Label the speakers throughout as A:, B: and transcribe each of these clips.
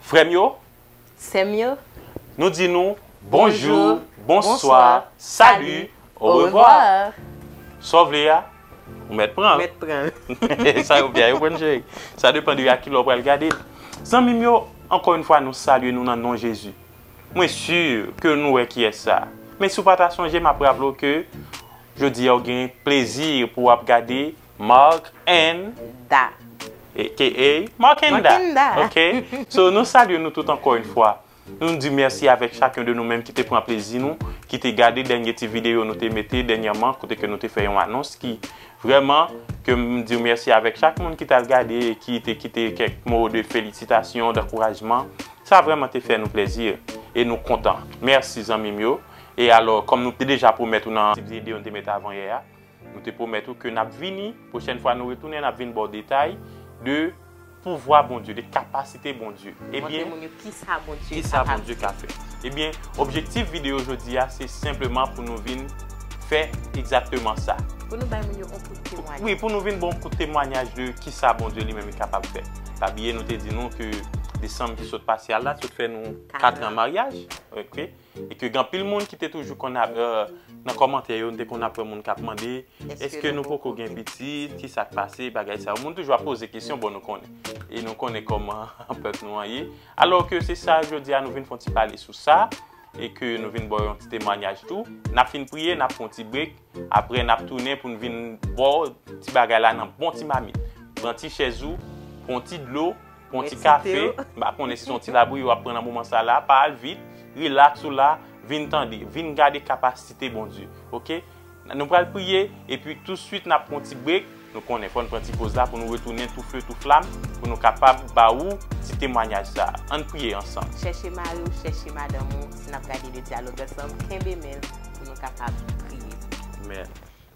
A: Frè m yo. Sè m yo.
B: Nou di nou
A: bonjou, bonswa, sali, orevwa. Sa w vle a, ou mèt pran l. Mèt pran l. Sa yo vle a, yo pran l cheri. Sa depan de a ki lè w pral gade l. Zanmi m yo, ankò yon fwa nou salye nou nan non Jezi. Mwen si ke nou wè kiyès sa. Men si w pa ta sonje m ap raple w ke jodi a ou gen plezi pou w ap gade. Marc and. Da.
B: Aka
A: Marc and Da. Marc and Da. Ok. So nou salye nou tout ankò yon fwa. Nou di mèsi avèk chak yon de nou menm ki te pran plezi nou, ki te gade dènye ti videyo nou te mete dènyèman kote ke nou te fè yon anons ki vrèman ke m di mèsi avèk chak moun ki t al gade e ki te kite kèk mo de felisitasyon, dankourajman. Sa vrèman te fè nou plèzi e nou kontan. Mèsi zanmi m yo. E alò kòm nou te deja pwomèt ou nan ti videyo nou te mete avan yè a. Nou te pwomèt ou ke nap vini, pwochèn fwa nou retounen nap vin baw detay de pouvwa Bondye, de kapasite Bondye. Montre moun
B: yo kisa Bondye ka fè.
A: Ebyen, objektif videyo jodi a se senpleman pou nou vin fè egzakteman sa. Pou nou bay moun yo yon
B: kout temwanyaj. Wi, pou nou vin baw yon kout
A: temwanyaj de kisa Bondye li menm li kapab fè. Pa bliye nou te di nou ke desanm ki sot pase a la sot fè nou 4 an maryaj. E ke gen anpil moun ki te toujou konn ap, nan kòmantè yo, nou te konn ap wè moun k ap mande, Eske nou poko gen pitit? Ki sa k pase? Bagay sa yo. Moun toujou ap poze kesyon, bon nou konnen. E nou konnen kòman pèp nou an ye. Alò ke se sa jodi a nou vin fè yon ti pale sou sa, e ke nou vin ba w yon ti temwanyaj tou. N ap fin priye, n ap fè yon ti brek, apre n ap tounen pou n vin ba w ti bagay la nan bon ti mamit. Pran ti chèz ou, pran yon ti dlo, Pwan ti kafe, mpa konnen si son ti labouyi wap pran nan moman sa la, pa al vit, relax ou la, vin tande, vin gade kapasite Bondye, ok? Nou pral priye, epi tou swit nap pwan ti break, nou konnen fòn pran ti poz la pou nou retounen tou feu tou flam pou nou kapab ba ou ti temwanyaj sa, ann priye ansanm. Chèche mariw,
B: chèche madanm ou, nap gade de dyalog ansanm, kenbe menl pou nou kapab priye. Amen.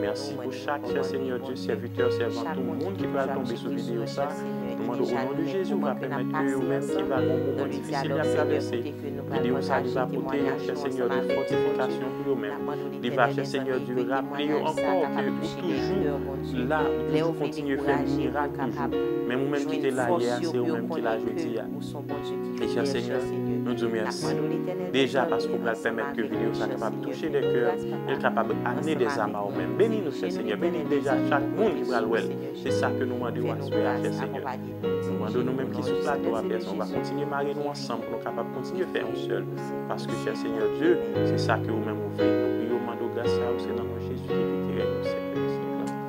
A: Merci pou chak chè Seigneur Dieu serviteur servante ou moun ki pral tonbe sou video sa nou mande o non de Jezi ou va pèmèt ke yo menm ki va gon moman difisil yap travèse video sa li va pote chè Seigneur Dieu fòtifikasyon pou yo menm li va chè Seigneur Dieu raple yo ankò ke ou toujou la ou toujou kontinye fè mirak toujou menm ou menm ki te la yè a se ou menm ki la jodi a. Mèsi Senyè, nou di w mèsi deja paske ou pral pèmèt ke videyo sa kapab touche dè kè, e l kapab amene dè zam a ou menm. Beni nou chè Senyè, beni deja chak moun ki pral wè l. Se sa ke nou mande w aswè a chè Senyè. Nou mande w nou menm ki sou plato a Pè San w va kontinye mare nou ansanm pou nou kapab kontinye fè yon sèl, paske chè Senyè Dye, se sa ke ou menm ou vle. Nou priye w mande w gras sa yo se nan non Jezi ki pi dirèk nou sèvi w Senyè.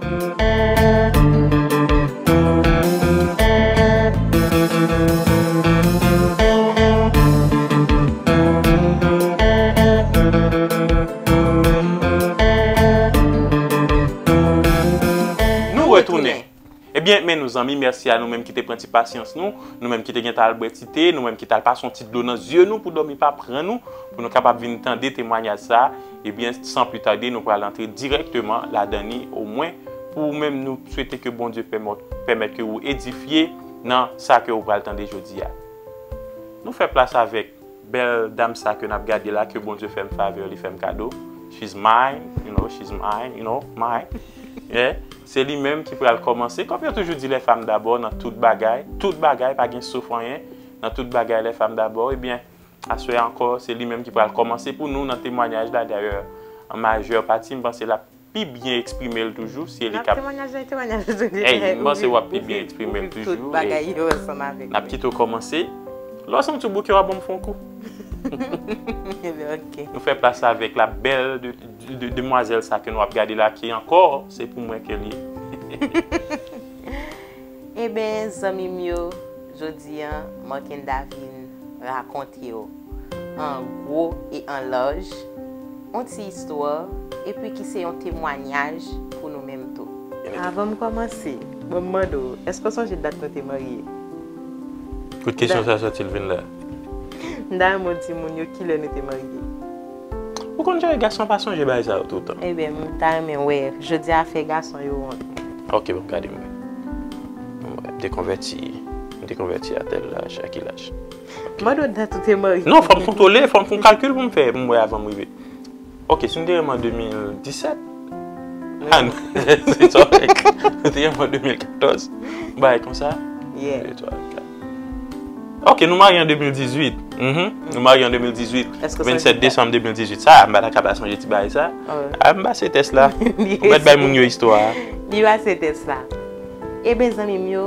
A: Nou retounen! Ebyen, men nou zanmi, mèsi a nou menm ki te pran ti pasyans nou, nou menm ki te gentan al bwè ti te, nou menm ki t al pase yon ti dlo nan zye nou pou dòmi pa pran nou, pou nou kapab vin tande temwanyaj sa a. Ebyen san pli tade nou pral antre dirèkteman ladan li o mwen pou ou menm nou swete ke Bondye pèmèt ke ou edifye nan sa ke ou pral tande jodi a. Nou fè plas avèk bèl dam sa ke nap gade la ke Bondye fèm favè li fèm kado she's mine you know she's mine you know mine yeah se li menm ki pral kòmanse kòm yo toujou di les femmes d'abord nan tout bagay tout bagay pa gen sof anyen nan tout bagay les femmes d'abord ebyen Aswè a ankò, se li menm ki pral kòmanse pou nou nan temwanyaj la, dayè an majè pati m panse l ap pi byen eksprime l toujou, si e li k ap. Nan temwanyaj nan temwanyaj ou toujou fè, Ey, m panse w ap pi byen eksprime l toujou, tout bagay yo ansanm
B: avèk mwen. N ap kite w
A: kòmanse, lè w santi w bouke w a ban m fè yon kou. Ok. Nou fè plas la avèk la bèl demwazèl sa ke nou ap gade la ki ankò se pou mwen ke l ye.
B: Eben zanmi m yo jodi an Marckenda vin rakonte w an gwo e an laj on ti istwa epi ki se yon temwanyaj pou nou menm tou. Avan m kòmanse, ban m mande w, èske w sonje dat nou te marye?
A: Kote kesyon sa sòti l vin la? M ta
B: renmen w di moun yo kilè nou te marye. Ou
A: konn jere gason pa sonje bagay sa yo toutan. Ebyen m ta renmen
B: wè jodi a fè gason yo wont. Ok bon gade
A: m wè. Bon bagay m te konvèti m te konvèti a tèl laj a ki laj. Ok. Mande w dat
B: ou te marye. Non fòm kontwole fòm
A: gon kalkil pou m fè pou m wè avan m rive. Ok si m te renmen an 2017 ha n se sa w fè. Si m te renmen an 2014 yon bagay konsa. Yeah. Ok nou marye an 2018 Uhmm nou marye an 2018 27 Desanm 2018 sa a m pa ta kapab sonje ti bagay sa a M pase tès la Ou mèt bay moun yo istwa a Li pase
B: tès la Eben zanmi m yo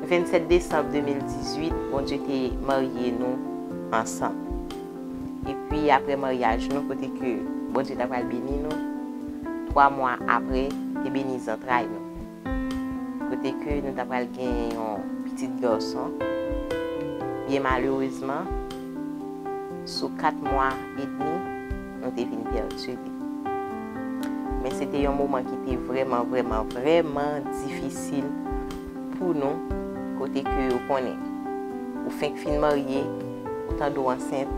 B: 27 Desanm 2018 Bondye te marye nou ansanm Epi apre maryaj nou kote ke Bondye ta pral beni nou 3 mwa apre te beni zantray nou. kote ke nou ta pral genyen yon pitit garçon, byen malerezman, sou 4 mwa e demi, nou te vin pèdi li. Men se te yon moman ki te vrèman, vrèman, vrèman difisil pou nou, kote ke ou konnen, ou fenk fin marye, ou tande ou ansent,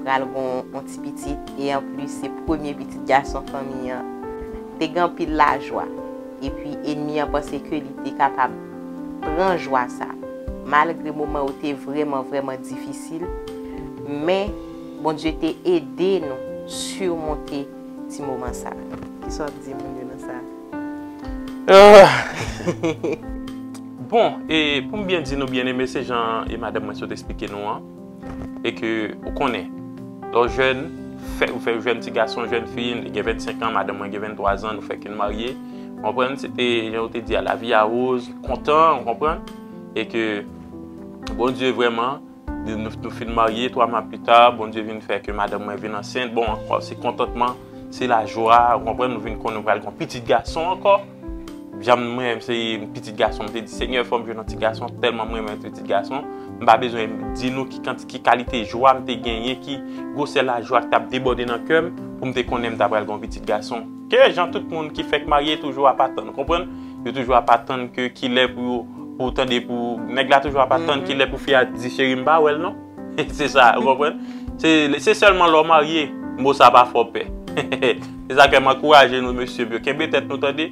B: pral gon yon ti pitit e anplis se premye pitit gason fanmi an. Te gen anpil lajwa. Epi enmi an panse ke li te kapab pran jwa sa. Malgre moman yo te vrèman vrèman difisil, men Bondye te ede nou surmonte ti moman sa. Kisa w ap di moun yo nan sa a?
A: Bon, e pou m byen di nou byeneme, se jan e madanm mwen sot esplike nou an. e ke ou konnen lè w jèn, ou fèk jèn ti gason, jèn fi, li gen 25 an, madanm mwen gen 23 zan, nou fèk fin marye, ou konprann, se te, jan yo te di a, la vie a rose, kontan, ou konprann, e ke Bondye vrèman, nou fin marye, 3 mwa pi ta, Bondye vin fè ke madanm mwen vin ansent, bon, ankò, se kontantman, se lajwa, ou konprann, nou vin konnen pral gen yon pitit gason ankò. Janm m renmen se yon pitit gason m te di senyè fòm jwenn yon ti gason tèlman m renmen pitit gason m pa bezwen di nou ki kanti ki kalite jwa m te genyen ki gwosè lajwa k tap debòde nan kèm pou m te konnen m ta pral gen yon pitit gason ke jan tout moun ki fèk marye toujou ap atann ou konprann yo toujou ap atann ke kilè pou pou tande pou nèg la toujou ap atann kilè pou fi a di cheri m pa wèl non. Se sa, ou konprann? Se sèlman lè w marye, mo sa pa fè w pè. Se sa k fè m ankouraje nou mesye m yo, kenbe tèt nou tande.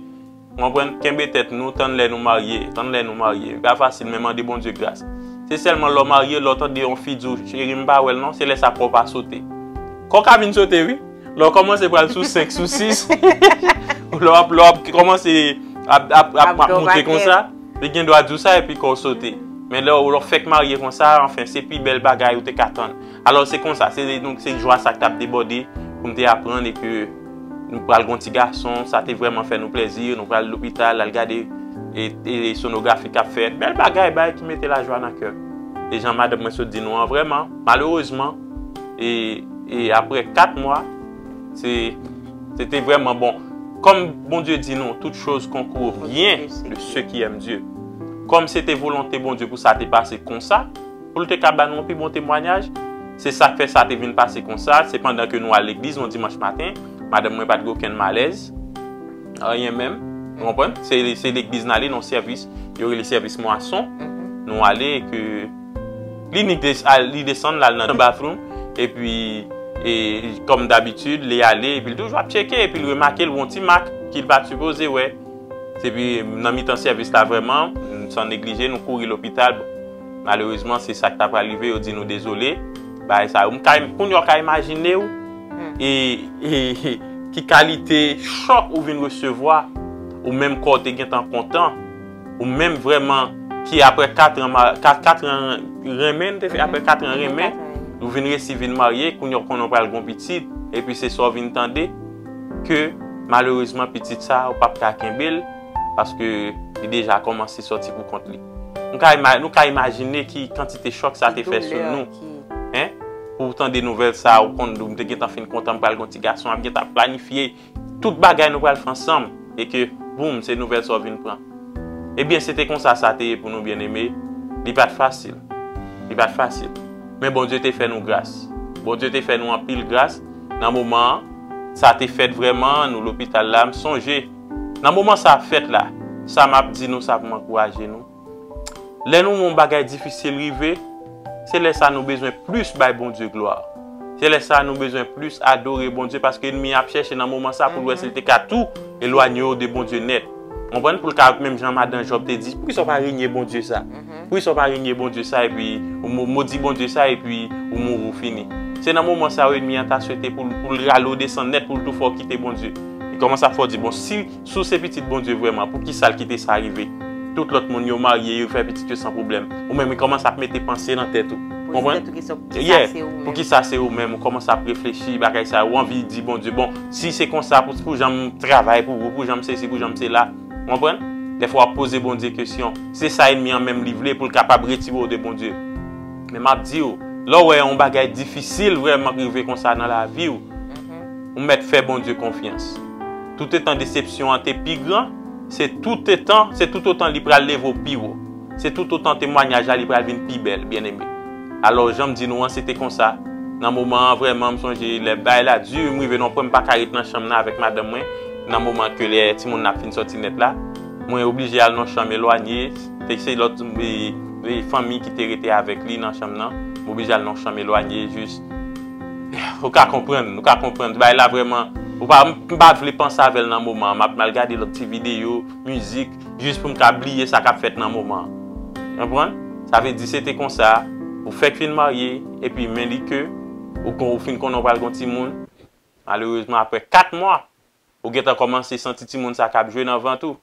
A: Ou konprann? Kenbe tèt nou, tann lè nou marye. Tann lè nou marye. Li pa fasil men mande Bondye gras. Se sèlman lè w marye, lè w tande yon fi di w, cheri m pa wè l non, se lè sa kò w pa sote. Kò w ka vin sote wi. Lè w kòmanse pral sou 5, sou 6, lè w ap kòmanse ap monte konsa. Li gen dwa di w sa epi kò w sote. Men lè w fèk marye konsa, anfen, se pi bèl bagay ou te ka tann. Alò se konsa, se donk se jwa sa k t ap debòde pou m te aprann e ke nou pral gen yon ti gason. Sa te vrèman fè nou plèzi. Nou pral lopital al gade sonografi k ap fèt. Bèl bagay, bagay ki mete lajwa nan kè. E jan madanm mwen sot di nou an, vrèman, malerezman, e apre 4 mwa. Se te vreman bon. Kom Bondye di nou, tout choz konkou byen de se ki èm Dye. Kom se te volonte Bondye pou sa te pase konsa, pou l te ka ba nou pi bon temwanyaj, se sa k fè sa te vin pase konsa, se pandan ke nou al legliz yon dimanch maten, madanm mwen pa t gen okenn malèz, anyen menm, ou konprann? Se legliz n ale nan sèvis, yo rele sèvis mwason, nou ale e ke... Li li desann lal nan bathroom epi kòm dabitid li ale epi li toujou ap tcheke epi li remake l wè yon ti mak ki l pat sipoze wè epi nan mitan sèvis la vrèman san neglije nou kouri lopital malerezman se sak ta pral rive yo di nou dezole bagay sa yo kounya w ka imajine w ki kalite chòk ou vin resevwa ou menm kò w te gentan kontan. Ou menm vreman ki apre 4 an ma 4 an renmen nou te fè apre 4 an renmen ou vin resi vin marye kounye ou konnen pral gon pitit epi se sa ou vin tande ke malerezman pitit sa ou pap ka kenbel paske li deja komanse soti pou kont li nou ka ima nou ka imajine ki kantite chòk sa te fè sou nou hein pou tande nouvèl sa ou konn ou te gentan fin kontan pral gon ti gason ap gentan planifye. Tout bagay nou pral fè ansanm e ke boom se nouvèl sa w vin pran. Ebyen se te konsa sa te ye pou nou byeneme, li pa t fasil. Li pa t fasil. Men Bondye te fè nou gras. Bondye te fè nou anpil gras nan moman an. Sa te fèt vrèman, nou lopital la. M sonje nan moman sa fèt la, sa m ap di nou sa pou m ankouraje nou. Lè nou wè yon bagay difisil rive, se lè sa a nou bezwen plis bay Bondye glwa. Se lè sa a nou bezwen plis adore Bondye paske ènmi an ap chèche nan moman sa a pou l wè si l te ka tou elwanye w de Bondye nèt. Ou konprann? Pou l ka, menm jan madan Jòb te di, Poukisa w pa renye Bondye sa? Poukisa w pa renye Bondye sa epi ou modi Bondye sa epi ou mouri ou fini? Se nan moman sa yo ènmi an ta swete pou l rale w desann nèt pou l tou fè w kite Bondye. Li kòmanse ap fè w di, Bon, si Si w se pitit Bondye vrèman, poukisa l kite sa rive? Tout lòt moun, yo marye, yo fè pitit yo san pwoblèm. Ou menm, ou kòmanse ap mete panse nan tèt ou. Poze tèt ou kesyon, poukisa se ou menm? Poukisa se ou menm? Ou kòmanse ap reflechi bagay sa yo. Ou anvi di Bondye, bon, si se konsa, pou jan m travay pou ou, pou jan m sesi, pou jan m sela. Ou konprann? Dèfwa w ap poze Bondye kesyon. Se sa ènmi an menm li vle, pou l kapab retire w de Bondye. Men m ap di w, lè w wè yon bagay difisil vrèman k rive konsa nan lavi w, Ou mèt fè Bondye konfyans. Toutetan desepsyon an te pi gran, se toutetan, se toutotan li pral leve w pi wo. Se toutotan temwanyaj la li pral vin pi bèl, byeneme. Alò, jan m di nou an, se te konsa, nan moman an, vrèman, m sonje lè bagay la di, m rive nan yon pwen m pa ka ret nan chanm nan avèk madanm mwen, nan moman ke lè timoun nan ap fin sòti nèt la. Mwen oblije al nan yon chanm elwanye, te se lòt fanmi ki te rete avèk li nan chanm nan, m oblije al nan yon chanm elwanye jis. Ou ka konprann, ou ka konprann, bagay la vrèman, ou pa, m pa vle panse avè l nan moman an, m ap mal gade lòt ti videyo, mizik, jis pou m ka bliye sa k ap fèt nan moman an. Ou konprann? Sa vle di se te konsa, ou fèk fin marye, epi men li ke, ou kon, ou fin konnen ou pral gen yon timoun, malerezman aprè 4 mwa, Ou gentan kòmanse santi timoun sa kap jwe nan vant ou,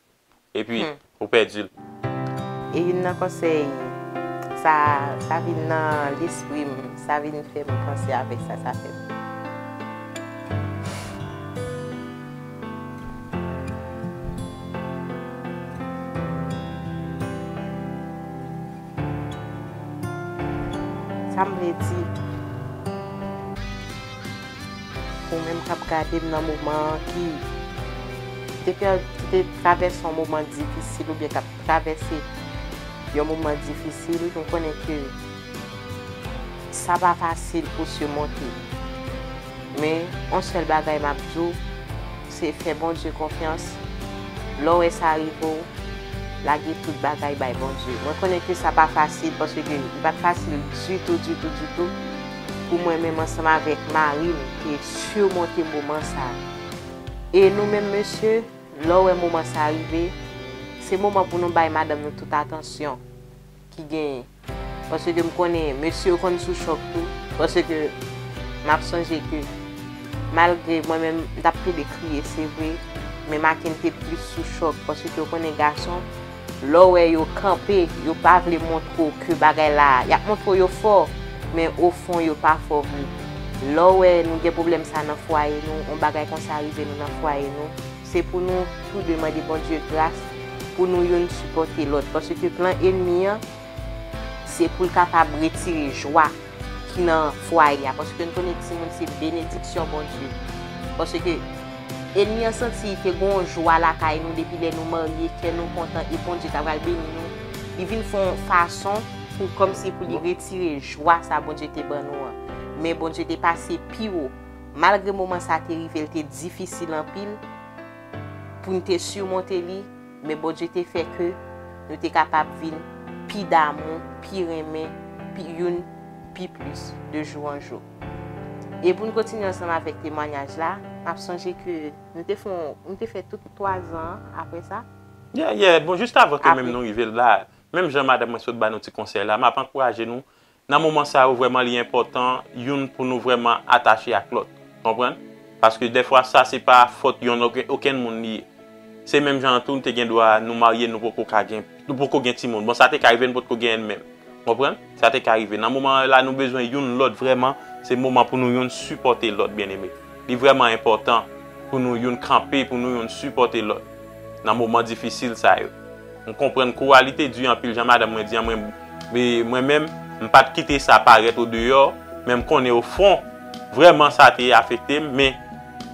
A: epi ou pèdi l. E
B: youn nan konsèy, sa, sa vin nan lespri m, sa vin fè m panse avèk sa, sa fè m. Sa m vle di. Ou menm kap gadem nan moman an ki te pè ki te travèse yon moman difisil oubyen kap travèse yon moman difisil nou konnen ke sa pa fasil pou simonte men yon sèl bagay map di w se fè Bondye konfyans lè w wè sa rive w lage tout bagay bay Bondye mwen konnen ke sa pa fasil paske li pat fasil ditou ditou ditou. pou mwen menm ansanm avèk mari m te surmonte moman sa a. E nou menm mesye, lè w wè moman sa a rive, se moman pou nou bay madanm nou tout atansyon ki genyen. Paske m konnen mesye yo konn sou chòk tou. Paske m ap sonje ke malgre mwen menm m t ap plede kriye se vre, men Macken te plis sou chòk paske ou konnen gason Lè w wè yo kanpe, yo pa vle montre w ke bagay la, y ap montre w yo fò, men ofon yo pa fò vre. Lè w wè nou gen pwoblèm sa nan fwaye nou, yon bagay konsa rive nou nan fwaye nou, se pou nou tou de mande Bondye gras pou nou youn sipòte lòt, paske plan enmi an, Se pou l kapab retire jwa ki nan fwaye a. Paske n konnen timoun se benediksyon Bondye. Paske enmi an santi ke gen yon jwa lakay nou depi lè nou marye, kè nou kontan e Bondye ta pral beni nou. Li vin fè yon fason pou kòmsi pou li retire jwa sa Bondye te ban nou an. Men Bondye te pase pi wo. Malgre moman sa te rive l te difisil anpil pou n te simonte li. Men Bondye te fè ke nou te kapab vin pi damou, pi renmen pi youn pi plis de jou an jou. E pou n kontinye ansanm avèk temwanyaj la, m ap sonje ke nou te fon, nou te fè tout twa zan an apre sa. Yeah, yeah, bon
A: jiskavan ke menm nou rive la, menm jan madanm mwen sot ba nou ti konsèy la, m ap ankouraje nou Nan moman sa yo vrèman li enpòtan youn pou nou vrèman atache ak lòt. Konprann? Paske dèfwa sa se pa fòt yon okenn moun li ye. Se menm jan an tou nou te gendwa nou marye nou poko ka gen, nou poko gen timoun. Bon sa te ka rive nou potko genyen menm. Konprann? Sa te ka rive. Nan moman la nou bezwen youn lòt vrèman, se moman pou nou youn sipòte lòt byeneme. Li vrèman enpòtan pou nou youn kanpe, pou nou youn sipòte lòt nan moman difisil sa yo. M konprann kou a li te di anpil jan madanm mwen di an mwen mwen menm m pat kite sa parèt o deyò men m konnen o fon vrèman sa te afekte m men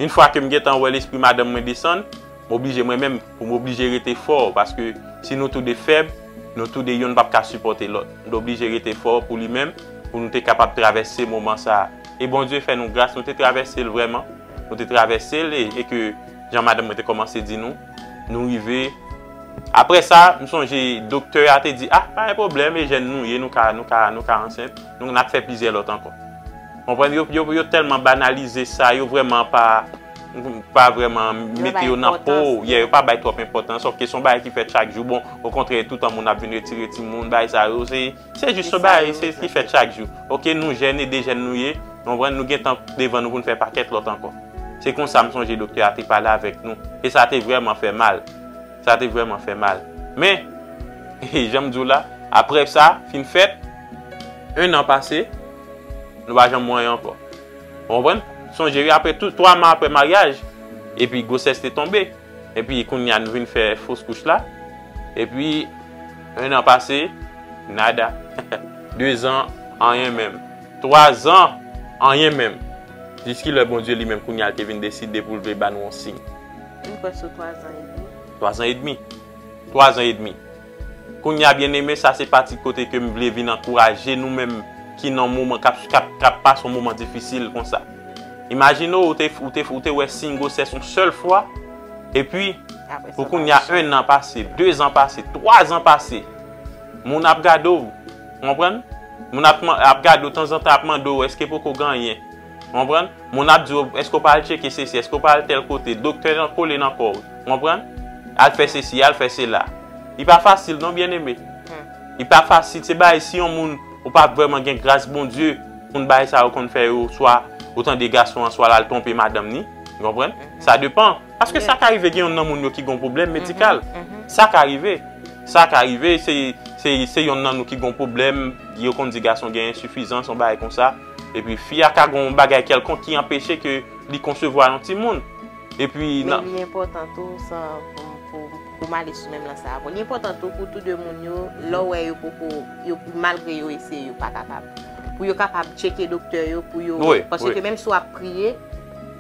A: yn fwa ke m gentan wè lespri madanm mwen desann m oblije mwen menm pou m oblije rete fò paske si nou tou 2 fèb nou tou 2 youn pap ka sipòte lòt m t oblije rete fò pou li menm pou nou te kapab travèse moman sa e Bondye fè nou gras nou te travèse l vrèman nou te travèse l e ke jan madanm mwen te kòmanse di nou. Nou rive. Apre sa, m sonje doktè a te di, ah, pa gen pwoblèm, e jèn nou ye, nou ka, nou ka, nou ka ansent. Nou, n ap fè plizyè lòt ankò. Konprann? Yo, yo, yo tèlman banalize sa, yo vrèman pa, pa vrèman mete yo nan po, yeah, yo pa bay twòp enpòtans, sòfke se yon bagay ki fèt chak jou. Bon, okontrè, toutan moun ap vin retire timoun, bagay sa yo, se. Se jis yon bagay ki fèt chak jou. Ok nou jèn e dejèn nou ye, ou konprann, nou gen tan devan nou pou nou fè pakèt lòt ankò. Se konsa m sonje doktè a te pale avèk nou e sa te vrèman fè mal. Sa te vrèman fè mal. Men, jan m di w la, aprè sa fin fèt, ennan pase, nou pa janm wè anyen ankò. Ou konprann? Sonje wi, aprè tou, twa mwa aprè maryaj, epi gwosès te tonbe. Epi kounya nou vin fè fos kouch la. Epi 1 an pase, nada. 2 zan, anyen menm. 3 zan, anyen menm. Jiskilè Bondye li menm kounya te vin deside pou l vle ba nou yon siy? M kwè sou 3
B: zan edmi. 3 zan edmi?
A: 3 zan edmi. Kounya byeneme sa se pati kote ke m vle vin ankouraje nou menm ki nan moman k ap pase yon moman difisil konsa. Imajine w ou te wè siy gwosès yon sèl fwa epi pou kounya 1 an pase, 2 zan pase, 3 zan pase moun ap gade w, ou konprann? Moun ap gade w tanzantan ap mande w eske poko gen anyen. Ou konprann? Moun ap di w, èske ou pa al tcheke sesi, èske ou pa al tèl kote, doktè nan kole nan kò w. Ou konprann? Al fè sesi, al fè sela. Li pa fasil non byenneme. Li pa fasil. Se bagay si yon moun ou pa vrèman gen gras Bondye pou n bagay sa yo konn fè yo swa ou tande gason an swa l al twonpe madanm ni. Ou konprann? Sa depan. Paske sa ka rive gen yonn nan moun yo ki gon pwoblèm medikal. Sa ka rive. Sa ka rive se se se yonn nan nou ki gon pwoblèm yo konn di gason gen ensifizans yon bagay konsa. Epi fi a ka gen yon bagay kèlkonk ki anpeche ke li konsevwa yon timoun. Epi nan. Men li enpòtan tou
B: san pou m ale sou menm lan sa a ankò. Li enpòtan tou pou tou de moun yo, lè w wè yo poko, malgre yo eseye yo pa kapab. Pou yo kapab tcheke doktè yo pou yo. Wi, wi. Paske menm si w ap priye,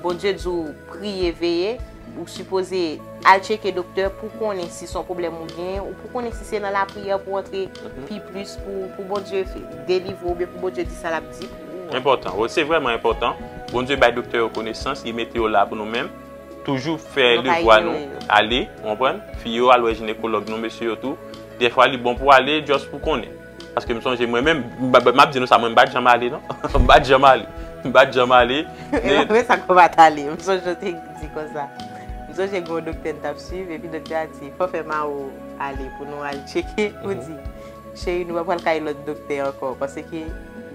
B: Bondye di w priye, veye. Ou sipoze al tcheke doktè pou konnen si son pwoblèm ou gen, ou pou konnen si se nan lapriyè pou antre pi plis pou Bondye delivre ou oubyen pou Bondye di sa lap di pou ou. Enpòtan, wi se
A: vrèman enpòtan. Bondye bay doktè yo konesans, li mete yo la pou nou menm. Toujou fè devwa nou, ale, ou konprann? Fi yo al wè jinekològ nou, mesye yo tou. Dèfwa li bon pou ale just pou konnen. Paske m sonje mwen menm, m ap di nou sa, mwen m pa t janm ale non. M pa t janm ale. M pa t janm ale. Mwen sa k ou pa
B: t ale? M sonje ou te di konsa. M sonje gen yon doktè n t ap suiv, epi doktè a di, fò fè Mao ale pou nou al tcheke. Ou di, cheri nou pa pral kay lòt doktè ankò. Paske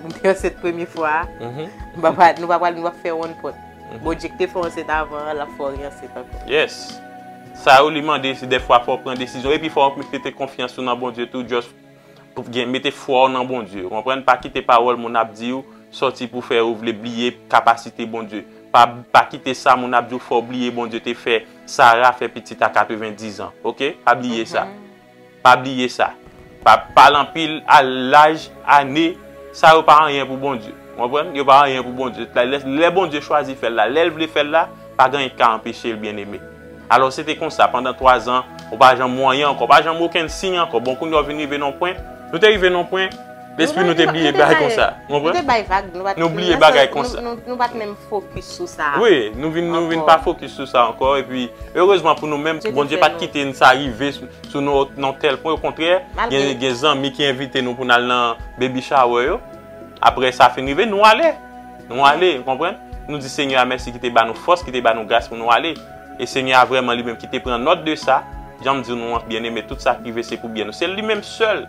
B: m te ansent premye fwa a, nou pa pral, nou pa pral, nou pa p fè wonn pòt. Bon, Dye k te fè w ansent avan an, l ap fè w re-ansent ankò. Yes.
A: Sa yo li mande, se dèfwa fò w pran desizyon. Epi fò w mete konfyans ou nan Bondye tou, just. Mete fwa w nan Bondye. Ou konprann? Pa kite pawòl moun ap di w sòti pou fè ou vle bliye kapasite Bondye. Pa kite sa moun ap di w fè w bliye Bondye te fè Sara fè pitit a 90 an. Oke? Pa bliye sa. Pa bliye sa. Pa pale anpil a laj, ane. Sa yo pa anyen pou Bondye. Ou konprann? Yo pa anyen pou Bondye. Lè Bondye chwazi fè l la, lè l vle fè l la, pa gen anyen ki ka anpeche l, byeneme. Alò se te konsa, pandan twazan, ou pa janm wè anyen ankò, pa janm okenn siy ankò. Bon, kounye a ou vin rive nan yon pwen, nou te rive nan yon pwen, lespri nou te bliye bagay konsa. Ou konprann? Nou te bay vag, nou pa t'. Nou bliye bagay konsa. Nou pa t' menm fokis
B: sou sa. Wi, nou vin, nou vin
A: pa fokis sou sa ankò, epi, erezman pou nou menm, Bondye pa t' kite n' sa rive sou nou nan yon tèl pwen, okontrè, gen, gen zanmi ki envite nou pou n'al nan baby shower yo, aprè sa fin rive, nou ale. Nou ale, ou konprann? Nou di Senyè a mèsi ki te ba nou fòs, ki te ba nou gras pou nou ale. E Senyè a vrèman li menm ki te pran nòt de sa, jan m di w nou an, byeneme, tout sa k rive se pou byen nou. Se li menm sèl!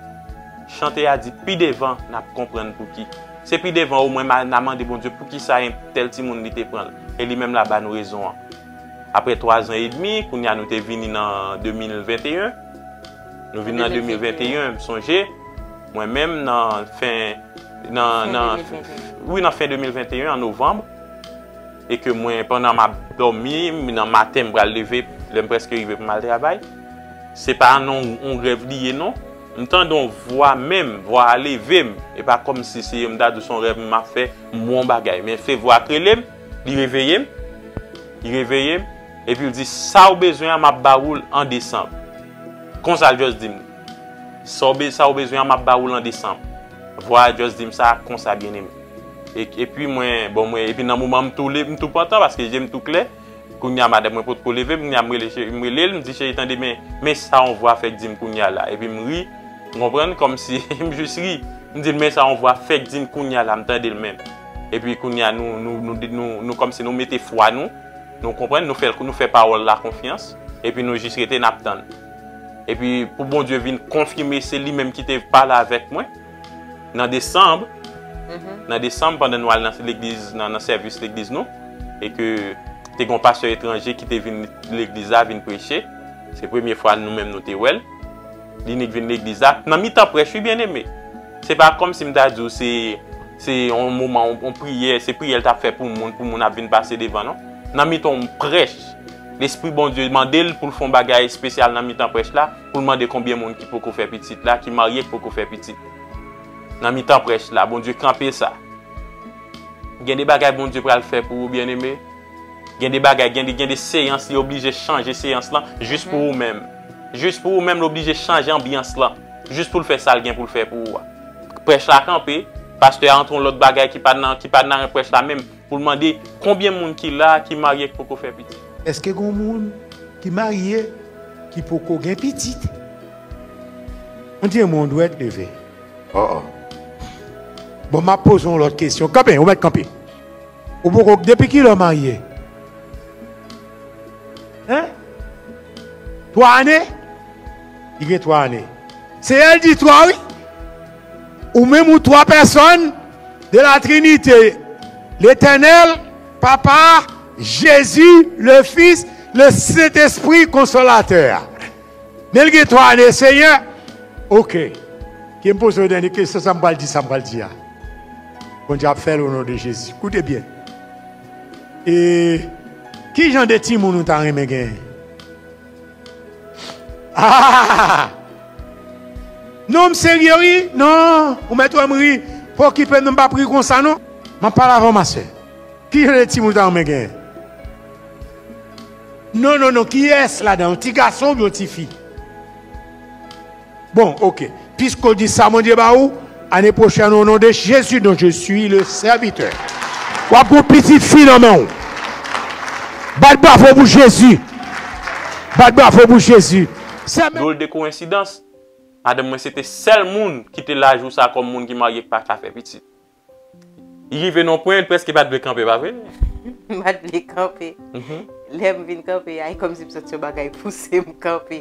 A: Chante a di, Pi devan, n ap konprann pouki. Se pi devan omwen m a n a mande Bondye poukisa enb tèl timoun li te pran l. E li menm la ba nou rezon an. Apre twazan edmi, kounye a nou te vini nan 2021. Nou vin nan 2021, m sonje, mwen menm nan fen, nan, nan, wi nan fen 2021, an novanm, e ke mwen pandan m ap dòmi, nan maten m pral leve, lè m preske rive pou m al travay, se pa nan yon rèv li ye non, m tande yon vwa menm, vwa a leve m, e pa kòm si se m ta di son rèv m ap fè, m wè yon bagay, men se vwa k rele m, li reveye m, li reveye m. Epi l di, Sa w bezwen an m ap ba ou l an desanm. Konsa l just di m, Sa w be, sa w bezwen an m ap ba ou l an desanm. Vwa a just di m sa, Konsa byeneme. E, epi mwen, bon mwen, epi nan moman m tou le, m tou pantan paske je m tou klè. Kounye a madanm mwen potko leve, kounye a m rele cheri, m rele l, m di, Cheri tande men, men sa yon vwa fèk di m kounye a la. Epi m ri, ou konprann, kòmsi m just ri. M di l, Men sa yon vwa fèk di m kounye a la, m tande l menm. Epi kounye a nou, nou, nou, nou, nou kòmsi nou mete fwa nou. Nou konprann, nou fè, nou fè pawòl la konfyans, epi nou jis rete n'ap tann. Epi pou Bondye vin konfime se li menm ki te pale avèk mwen nan desanm, nan desanm pandan nou al nan legliz, nan sèvis legliz nou, e ke te gen yon pastè etranje ki te vin legliz la vin preche, se premye fwa nou menm nou te wè l. Li nik vin legliz la nan mitan prèch wi byeneme. Se pa kòmsi m ta di w se se yon moman yon priyè, se priyè l t ap fè pou moun, pou moun ap vin pase devan non. Nan mitan yon prèch, lespri Bondye mande l pou l fè yon bagay espesyal nan mitan prèch la, pou l mande konbyen moun ki poko fè pitit la, ki marye ki poko fè pitit. Nan mitan prèch la, Bondye kanpe sa. Gen de bagay Bondye pral fè pou ou byeneme. Gen de bagay, gen de gen de seyans li oblije chanje seyans lan jis pou ou menm. Jis pou ou menm li oblije chanje anbyans lan jis pou l fè sa l gen pou l fè pou ou a. Prèch la kanpe, pastè a antre yon lòt bagay ki pa nan ki pa nan prèch la menm pou l mande konbyen moun ki la ki marye ki poko fè pitit. Èske gen yon moun
C: ki marye ki poko gen pitit? Mwen di yon mo yon dwèt leve. Oo. Bon m ap poze yon lòt kesyon. Kanpe, ou mèt kanpe. Ou poko depi kilè ou marye? Hein? 3 ane? Li gen 3 ane. Se el di 3 wi. Ou menm ou 3 pèsòn de la trinite. Letènèl, papa, Jezi, le fis, le sentespri konsolatè a. Men li gen 3 ane seyè ok kem pozew dènye kesyon sam pral di sam pral di a Bondye ap fèl onon de Jezi koute byen e kijan de timoun ou ta renmen genyen hahahaa non m serye wi non ou mèt wèm ri pa okipem non m pap ri konsa non map pale avèw ma sè kijan de timoun ou ta renmen genyen. Non non non kiyes ladan yon ti gason oubyen yon ti fi bon ok piske ou di sa Bondye ba ou ane pwochèn o non de Jezi don je suis le sèvitè wap gen yon pitit fi nan menw bat bravo pou Jezi bat bravo pou Jezi sè menm. Dwol de
A: koyensidans, madanm mwen se te sèl moun ki te la jou sa kòm moun ki marye k pa ka fè pitit. Li rive nan yon pwen, li prèske pa t vle kanpe, pa vre? M pa t vle
B: kanpe. Lè m vin kanpe a, e kòmsi m santi yon bagay pouse m kanpe.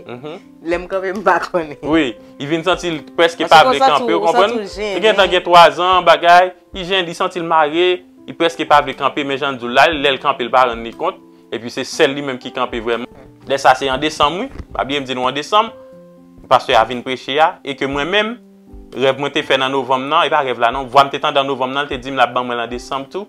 B: Lè m kanpe, m pa konnen. Wi. Li vin santi
A: l prèske pa vle kanpe, ou konprann? Ou santi ou jennen. Li gentan gen twazan, bagay. Li jennen, li santi l mare. Li prèske pa vle kanpe, men jan l di w la, lè l kanpe, l pa rann li kont. Epi se sèl li menm ki kanpe vrèman. Lè sa a se an desanm, wi. Pa bliye m di nou an desanm. Pastè a vin preche a. E ke mwen menm. Rèv mwen te fè nan novanm nan, e pa rèv la non, vwa m te tande an novanm nan, l te di m l ap ban mwen l an desanm tou.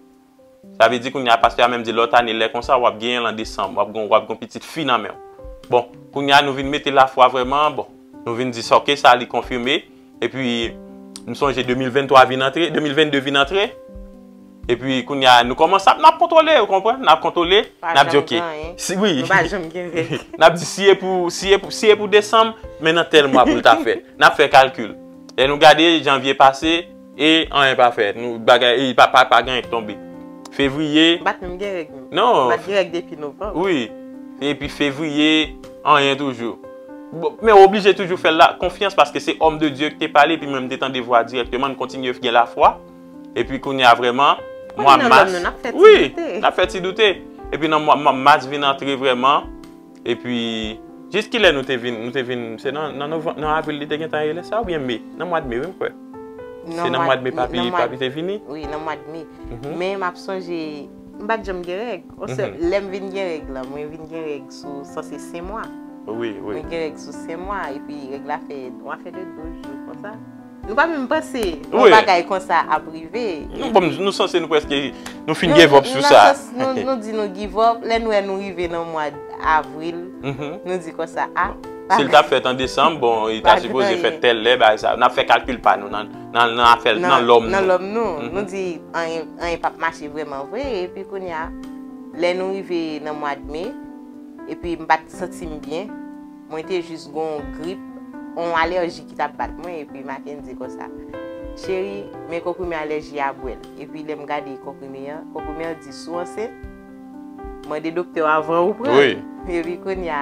A: Sa vle di kounye a pastè a menm di lòt ane lè konsa w ap genyen l an desanm, w ap gen yon pitit fi nan men w. Bon, kounye a nou vin mete lafwa vrèman, bon, nou vin di sa ok sa li konfime, epi m sonje 2023 vin antre, 2022 vin antre. Epi kounye a nou kòmanse ap nap kontwole ou konprann nap kontwole nap di ok si wi nap di si e pou si e pou si e pou desanm men nan tèl mwa pou l ta fèt nap fè kalkil lè nou gade janvye pase e anyen pa fèt nou bagay e pa pa pa genyen k tonbe fevriye bat menm gen règ menm non bat gen règ depi
B: novanm wi
A: epi fevriye anyen toujou bon men ou oblije toujou fè l la konfyans paske se òm de Dye k te pale epi mwen m te tande vwa dirèkteman n kontinye gen lafwa. E pi kounye a vreman, mwa mas, wi, n ap fè ti doute. E pi nan mwa mas vin antre vreman, e pi, jis ki lè nou te vin, nou te vin, se nan, nan novanm, nan avril li te gen tan rele sa ou byen me? Nan mwad me wi m kwè. Se nan mwad me papi, papi te vini. Wi, nan mwad me.
B: Men m ap sonje, m pa t janm gen règ. On se, lè m vin gen règ la, mwen vin gen règ sou, sa se sen mwa. Wi, wi. Mwen gen
A: règ sou
B: sen mwa, e pi règ la fè, yon afè de 12 jou konsa. Nou pa menm panse yon bagay konsa ap rive. Nou sanse nou
A: preske, nou fin give up sou sa. Nou di nou
B: give up, lè nou wè nou rive nan mwa avril, nou di konsa a. Si l ta fèt an
A: desanm, bon, li ta sipoze fèt tèl lè, bagay sa. N ap fè kalkil pa nou nan afèl, nan lòm nou. Nan lòm nou. Nou di
B: anyen pa p mache vreman vre, epi kounya, lè nou rive nan mwad me, epi m pa t santi m byen. Mwen te jis gon w grip, on alèji ki tap bat mwen epi Mackendy konsa, Cheri, men konprime alèji a bwèl. Epi lèm gade konprime an, konprime an di si w ansent, mande doktè w avan ou pran l. Epi kounya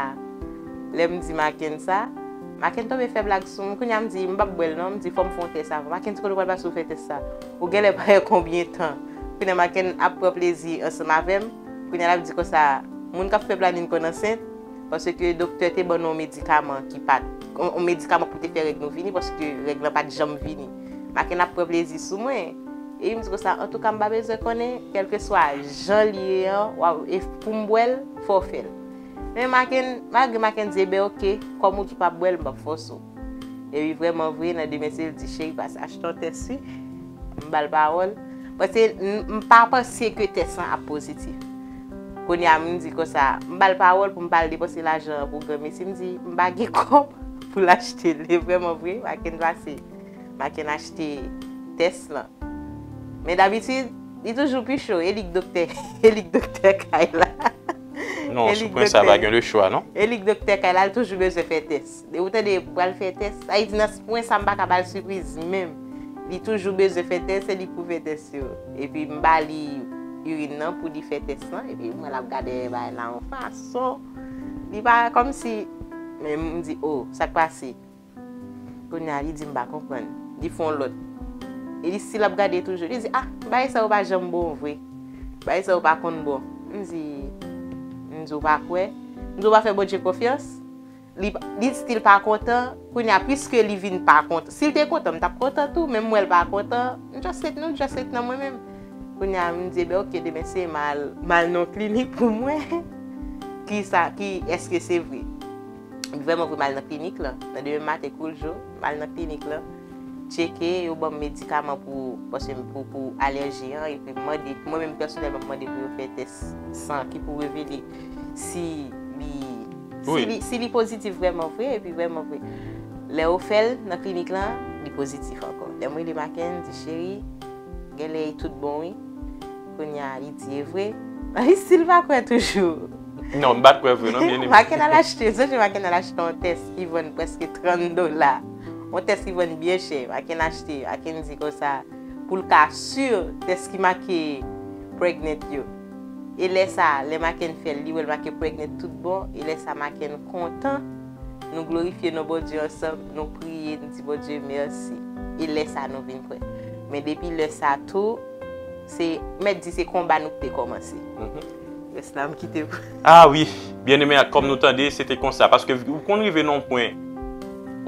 B: lèm di Macken sa, Macken tonbe fè blag sou m, kounya m di m pap bwèl non, m di fòm fè yon tès avan. Macken di kote w pral pase pou fè tès sa? Ou genlè pa wè konbyen tan. Kounya Macken ap pran plezi ansanm avèm, kounya lap di konsa, moun kap fè planin konn ansent? Paske doktè te ban nou yon medikaman ki pat, yon medikaman pou te fè règ nou vini paske règ lan pat janm vini. Makenn ap pran plezi sou mwen. Epi m di konsa, antouka m pa bezwen konnen, kèlkeswa jan l ye an, w ap, e pou m bwè l, fò w fè l. Men Makenn, malgre Makenn di, eben oke, kòm ou di w pa p bwè l, m p ap fòse w. Epi vreman vre nan demen se l di cheri pase achte yon tès wi. M ba l pawòl. Pase m pa panse ke tès lan ap pozitif. Kounye a m di konsa, m ba l pawòl pou m pa al depanse lajan an pou granmesi. M di m pa gen kòb pou l achte l. E vreman vre, Maken pase. Maken achte tès lan. Men dabitid, li toujou pi cho. E li k doktè. E li k doktè kay la. Non,
A: sou pwen sa pa gen lechwa non. E li k doktè kay la, l
B: toujou bezwen fè tès. Ou tande pral fè tès. Ayiti nan pwen sa m pa ka ba l sipriz menm. Li toujou bezwen fè tès se li k pou fè tès yo. Epi m ba li irin nan pou li fè tès lan epi m wè l ap gade bagay la yon fason li pa kòmsi men m di o sa k pase. Kounye a li di m pa konprann. Li fè yon lòt. E li stil ap gade toujou. Li di a bagay sa yo pa janm bon vre. Bagay sa yo pa konn bon. M di m di ou pa kwè? M di ou pa fè Bondye konfyans? Li stil pa kontan, kounye a puiske li vin pa kontan, si li te kontan m tap kontan tou, men m wè l pa kontan, m just ret nou just ret nan mwen menm. Kounye a m di e ben ok demen se m al m al nan yon klinik pou m wè kisa ki eske se vre. Vrèman vre m al nan klinik lan, nan demen maten kou l jou, m al nan klinik lan, tcheke, yo ban m medikaman pou paske m pou pou alèji an epi m mande, mwen menm pèsonèlman m mande pou yo fè tès san ki pou revele si li. Si li pozitif vreman vre, epi vreman vre, lè yo fè l nan klinik lan, li pozitif ankò. Lè m rele Macken, m di, cheri, gen lè li tout bon wi. Kounye a, li di, e vre? Nan li si l pa kwè toujou. Non, m pa t kwè
A: vre non, byeneme. Macken al achte, yon jou
B: Macken al achte yon tès ki vann prèske 30 dola. Yon tès ki vann byen chè. Macken achte, Macken di konsa, pou l ka si tès ki make pregnant yo. E lè sa a, lè Makenn fè l, li wè l make pregnant tout bon, e lè sa Makenn kontan, nou glorifye non Bondye ansanm, nou priye, nou di Bondye mèsi. E lè sa a nou vin prè. Men depi lè sa a tou, se, mèt di se konba nou te kòmanse. Rès la m kite pou. A wi!
A: Byeneme ak kòm nou tande, se te konsa. Paske ou konn rive nan yon pwen,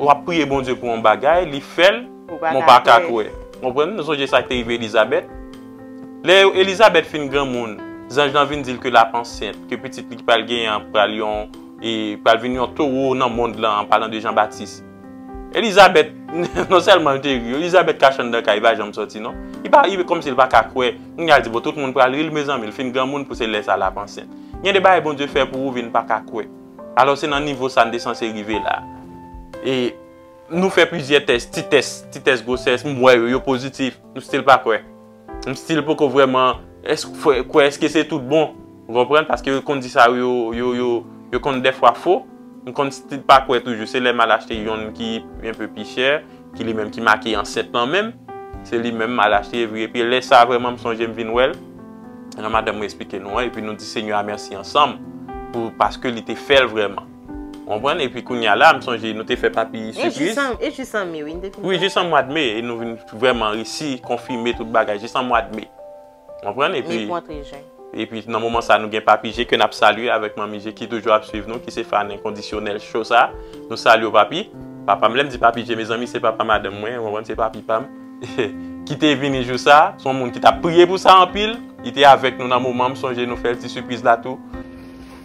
A: w ap priye Bondye pou yon bagay, li fè l. Mwen pa ka kwè. Ou konprann? Nou sonje sa k te rive Elizabèt. Lè Elizabèt fin granmoun, zanj lan vin di l ke l ap ansent, ke pitit li ki pral genyen an pral yon, pral vin yon towo nan mond lan, an palan de Jan Batis. Elizabèt, non sèlman l te ri, Elizabèt kache anndan kay, li pa janm sòti non. Li pa, li kòmsi l pa ka kwè. Kounye a l di, bon, tout moun pral ri l, mezanmi, l fin granmoun pou se lè sa l ap ansent. Gen de bagay Bondye fè pou ou vin pa ka kwè. Alò se nan nivo sa n te sanse rive la. E. Nou fè plizyè tès, ti tès, ti tès gwosès, m wè yo, yo pozitif, m stil pa kwè. M stil poko vrèman kwè eske se tout bon, ou konprann, paske yo konn di sa yo, yo, yo, yo konn dèfwa fo. M konn stil pa kwè toujou, se lè m al achte yonn ki enpe pi chè, ki li menm ki make ansent lan menm, se li menm m al achte evri, epi lè sa vrèman m sonje m vin wè l, jan madanm mwen esplike nou an, epi nou di Senyè a mèsi ansanm, pou, paske li te fè l vrèman. Ou konprann? Epi kounye a la, m sonje nou te fè papi sipriz. E jis an me wi nou
B: te fin fè sa. Wi, jis an mwad me e
A: nou vin vrèman resi konfime tout bagay jis an mwad me. Ou konprann? Epi. Me pou antre jen. Epi nan moman sa nou gen papi je ke n ap salye avèk manmi je ki toujou ap swiv nou ki se fan enkondisyonèl cho sa. Nou salye w papi. Papa m, lè m di papi je mezanmi se papa madanm mwen, ou konprann, se papi pa m. Ki te vini jou sa. Se yon moun ki t ap priye pou sa anpil. Li te avèk nou nan moman, m sonje nou fè l ti sipriz la tou.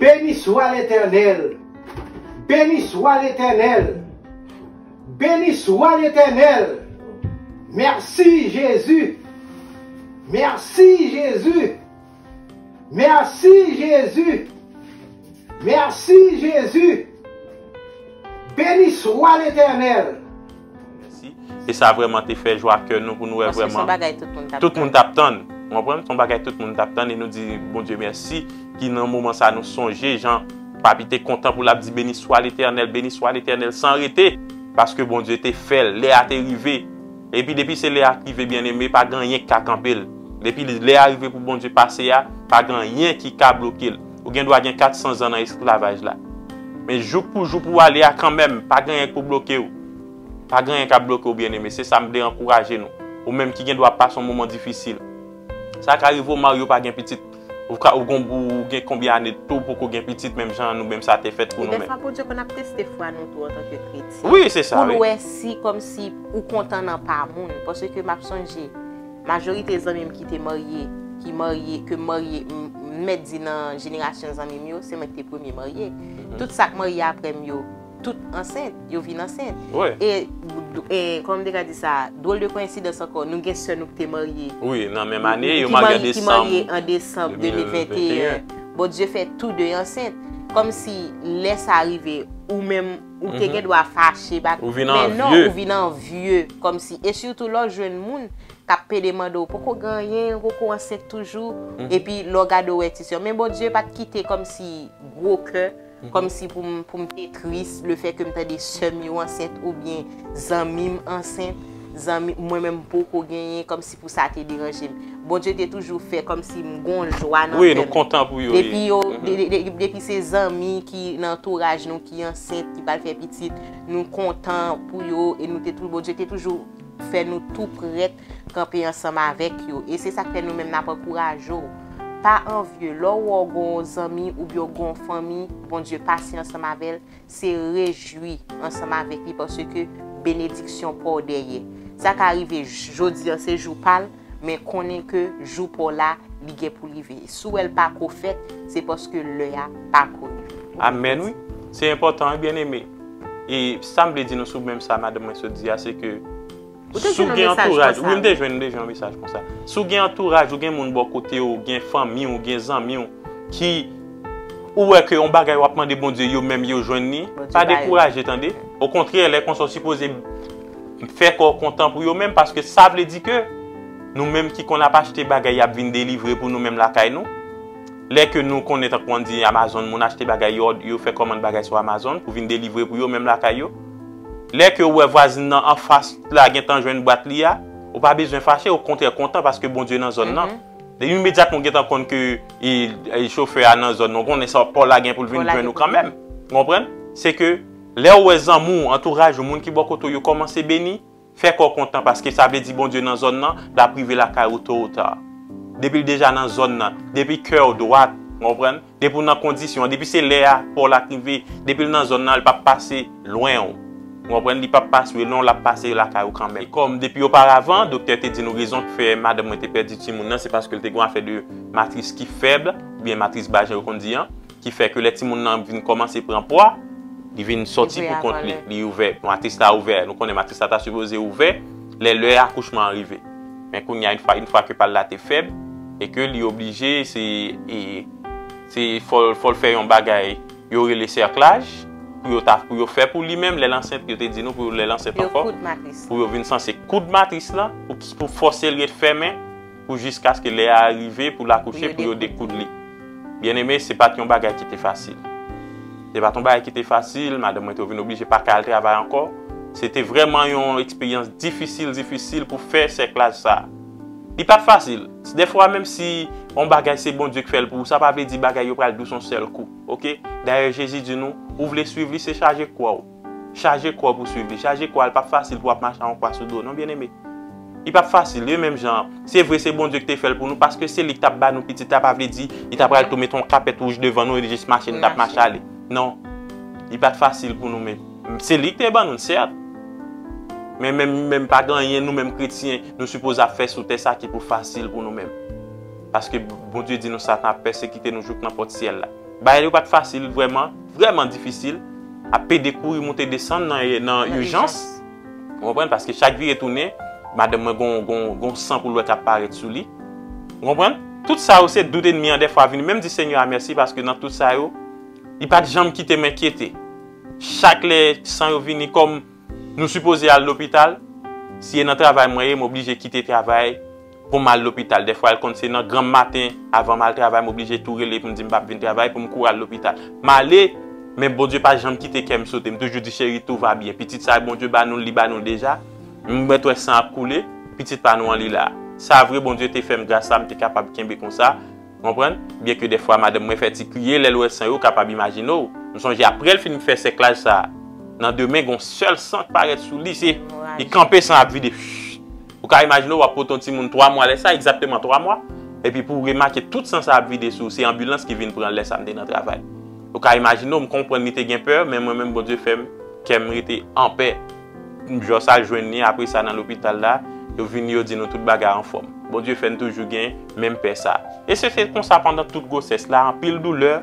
C: Beni swa Letènèl! Beni swa Letènèl! Beni swa Letènèl! Mèsi Jezi!
D: Mèsi Jezi! Mèsi Jezi! Mèsi Jezi! Beni swa Letènèl!
A: E sa vreman te fè jwa kè nou pou nou wè vreman. Paske son bagay tout moun
B: tap tann.
A: Tout moun
B: tap tann.
A: Ou anprann? Son bagay tout moun tap tann. E nou di Bondye mèsi ki nan moman sa nou sonje jan papi te kontan pou lap di beni swa letènèl, beni swa letènèl san rete. Paske Bondye te fèl. Lè a te rive. E pi depi se lè a ki rive byen eme pa gen anyen ki ka kanpel. Depi lè a rive pou Bondye pase a, pa gen anyen ki ka blokel. Ou gen dwa gen 400 zan nan esklavaj la. Men jouk pou jou pou ale a kanmenm, pa gen anyen k pou bloke ou. Pa gen anyen k ap bloke ou byeneme. Se sa m vle ankouraje nou. Ou menm ki gen dwa ap pase yon moman difisil. Sa ka rive ou marye ou pa gen pitit. Ou ka ou gon ou gen konbyen ane tou ou poko gen pitit menm jan an nou menm sa te fèt pou nou menm. E dèfwa Bondye konn ap teste
B: fwa nou tou antanke kretyen. Wi se sa wi. Pou l wè
A: si kòmsi
B: ou kontan nan pa moun. Paske m ap sonje. Majorite zanmim ki te marye, ki marye, ke m marye, m mèt di nan jenerasyon zanmim yo, se mwen ki te premye marye. Tout sa k marye apre m yo, tout ansent, yo vin ansent. E,
A: kòman
B: m te ka di sa, dwòl de koyensidans ankò, nou gen sè nou ki te marye. Wi, nan menm ane,
A: yo marye an desanm. Ki marye
B: an desanm 2021. Bon, Dye fè tou de ansent. Kòmsi lè sa rive, ou menm. Ou te gen dwa fache bat. Ou vin anvye. Men non,
A: ou vin
B: anvye. Kòm si, e sitou lè w jwenn moun k ap pede mande w, ou poko gen anyen, ou poko ansent toujou, epi lè w gade w wè ti sè w. Men Bondye pa t kite kòm si gwo kè, kòm si pou m, pou m te tris le fè ke m tande sè m yo ansent oubyen zanmi m ansent, zanmi, mwen menm m poko genyen, kòm. Pou sa te deranje m. Bondye te toujou fè kòm si m gon jwa nan kè m. Wi, nou kontan pou
A: yo. Depi yo,
B: depi se zanmi ki nan antouraj nou ki ansent, ki pral fè pitit, nou kontan pou yo e nou te tou, Bondye te toujou fè nou tou prèt kanpe ansanm avèk yo. E se sa k fè nou menm n ap ankouraje w. Pa anvye. Lè w wè w gon zanmi oubyen w gon fanmi, Bondye pasyan ansanm avè l, se rejwi ansanm avèk li paske benediksyon pa w dèyè. Sa ka rive jodi an se jou pa l, men konnen ke jou pa w la, li gen pou rive. Si w wè l pa ko fèt, se paske lè a pa ko rive. Amèn wi.
A: Se enpòtan wi byeneme. E sa m vle di nou sou menm sa madanm mwen sot di a se ke, Ou te jwenn yon mesaj konsa wi. Si w gen antouraj, wi m te jwenn, m te jwenn yon mesaj konsa. Si w gen antouraj, ou gen moun bò kote w, gen fanmi w, gen zanmi w ki ou wè ke yon bagay w ap mande Bondye yo menm yo jwenn li, pa dekouraje tande. Okontrè lè konsa w sipoze fè kè w kontan pou yo menm paske sa vle di ke nou menm ki konn ap achte bagay y ap vin delivre pou nou menm lakay nou. Lè ke nou konnen tankou an di Amazon moun achte bagay yo fè kòmand bagay sou Amazon pou vin delivre pou yo menm lakay yo. Lè ke ou wè vwazin nan anfas la gentan jwenn bwat li a, ou pa bezwen fache, okontrè kontan paske Bondye nan zòn nan. Imedyatman ou gentan konn ke chofè a nan zòn nan, ou konnen sa pa w la gen pou l vin jwenn ou kanmenm. Ou konprann? Se ke lè ou wè zanmi w, antouraj ou, moun ki bò kote w yo kòmanse beni, Fè kè w kontan paske sa vle di Bondye nan zòn nan, l ap rive lakay ou to ou ta. Depi l deja nan zòn nan, depi kè w dwat, ou konprann, depi w nan kondisyon an, depi se lè a pa w l ap rive, depi l nan zòn nan, l p ap pase lwen w. Ou konprann, li p ap pase lwen w, l ap pase lakay ou kanmenm. Kòm depi oparavan, doktè te di nou rezon k fè madanm mwen te pèdi timoun nan se paske l te gen yon afè de matris ki fèb, oubyen matris bajen yo konn di an. ki fè ke lè timoun nan vin kòmanse pran pwa, li vin sòti pou kont li, li ouvè, matris la ouvè, nou konnen matris la ta sipoze ouvè lè lè akouchman an rive. Men kounye a yn fwa, yn fwa ke pal la te fèb e ke li oblije se se fòl fòl fè yon bagay yo rele sèklaj pou yo ta pou yo fè pou li menm lèl ansent yo te di nou pou lèl ansent ankò pou yo vin sanse koud matris lan pou fòsel ret fèmen. pou jiskaske lè a rive pou l akouche pou yo dekoud li. Byeneme, se pa t yon bagay ki te fasil. Se pa t yon bagay ki te fasil, madanm mwen te vin oblije pa ka al travay ankò. Se te vrèman yon eksperyans difisil difisil pou fè sèklaj sa a. Li pa t fasil. Dèfwa menm si yon bagay se Bondye ki fè l pou ou, sa pa vle di bagay yo pral dous yon sèl kou. Oke? Dayè Jezi di nou, ou vle suiv li, se chaje kwa w. Chaje kò pou swiv li. Chaje kò a, li pap fasil pou wap mache ak yon kwa sou do non byeneme. Li pap fasil, e menm jan an, se vre se Bondye ki te fè l pou nou, paske se li ki tap ba nou pitit la, pa vle di li ta pral tou mete yon kapèt wouj devan nou epi jis mache nou tap mache ale. Non. Li pat fasil pou nou men se li ki te ban nou l sèt. Men menm menm pa gen anyen nou menm kretyen nou sipoze ap fè sou tè sa ki pou fasil pou nou menm. Paske Bondye di nou Satan ap pèsekite nou jouk nan pòt syèl la. Bagay yo pat fasil vrèman, vrèman difisil, ap pede kouri moute desann nan ijans, ou konprann, paske chak vire tounen, madanm mwen gon san koulè kap parèt sou li, ou konprann, tout sa yo se dout enmi an dèfwa vini, menm di Senyè a mèsi paske nan tout sa yo, li pat janm kite m enkyete, chak lè san yo vini kòm nou sipoze al lopital, si e nan travay mwen ye m oblije kite travay. Pou m al lopital. Dèfwa l konn se nan granm maten, avan m al travay, m oblije tou rele pou m di m pap vin travay pou m kouri al lopital. M ale, men Bondye pa janm kite kè m sote. M toujou di cheri tou va byen. Pitit sa Bondye ba nou l, li ba nou l deja. M mèt wè san ap koule, pitit pa nou an li la. Sa vre Bondye te fè m gras sa m te kapab kenbe konsa, konprann, byen ke dèfwa madanm mwen fè ti kriye lè l wè san yo, w kapab imajine w. M sonje aprè l fin fè sèklaj sa, nan demen gen yon sèl san k parèt sou li, se li kanpe san ap vide. Ou ka imajine w ap pote yon timoun 3 mwa lè sa, egzakteman 3 mwa, epi pou w remake tout san sa ap vide sou ou, se anbilans ki vin pran l lè sa m te nan travay. Ou ka imajine w, m konprann li te gen pè, men mwen menm Bondye fè m, kè m rete anpè. M jòs al jwenn li apre sa nan lopital la, yo vini yo di nou tout bagay anfòm. Bondye fè n toujou gen menm pè sa. E se te konsa pandan tout gwosès la, anpil doulè,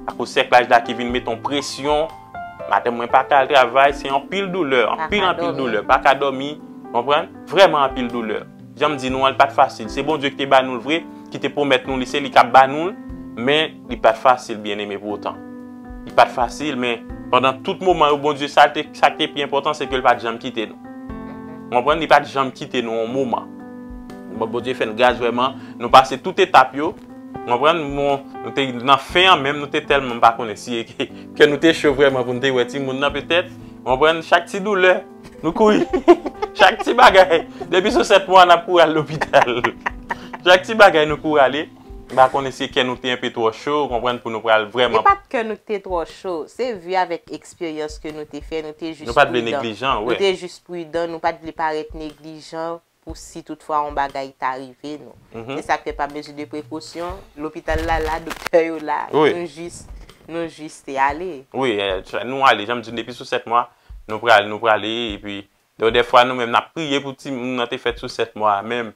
A: akoz sèklaj la ki vin mete yon presyon, Madanm mwen pa ka al travay, se anpil doulè, anpil anpil doulè, pa ka dòmi, konprann, vrèman anpil doulè. Jan m di nou an, li pa t fasil. Se Bondye ki te ba nou l vre, ki te pwomèt nou li, se li k ap ba nou l, men, li pa t fasil, byeneme, pou otan. Li pa t fasil, men, pandan tout moman yo, Bondye, sa l te, sa k te pi enpòtan, se ke l pa t janm kite nou. Ou konprann? Li pa t janm kite nou yon moman. Bon, Bondye fè n gras vrèman, nou pase tout etap yo, ou konprann, bon, nou te nan fen an menm, nou te tèlman, m pa konnen si e ke Kè nou te cho vrèman pou nou te wè timoun nan petèt. Ou konprann? Chak ti doulè, nou kouri. Chak ti bagay, depi sou 7 mwa n ap kouri al lopital. Chak ti bagay nou kouri ale. M pa konnen si kè nou te enpe twò cho, ou konprann, pou nou pral vrèman. Se pa t kè nou ki te
B: twò cho. Se vi avèk eksperyans ke nou te fè, nou te jis pridan. Nou pa t vle neglijan,
A: wi.
B: Nou
A: te jis pridan,
B: nou pa t vle parèt neglijan, pou si tout fwa yon bagay ta rive nou. Se sa k fè pa mezi de prekosyon, lopital la la, doktè yo la, nou jis,
A: nou jis
B: te ale. Wi, nou
A: ale, jan m di nou depi sou 7 mwa, nou prale, nou prale, epi, don dè fwa nou menm n ap priye pou timoun nan te fèt sou 7 mwa a menm,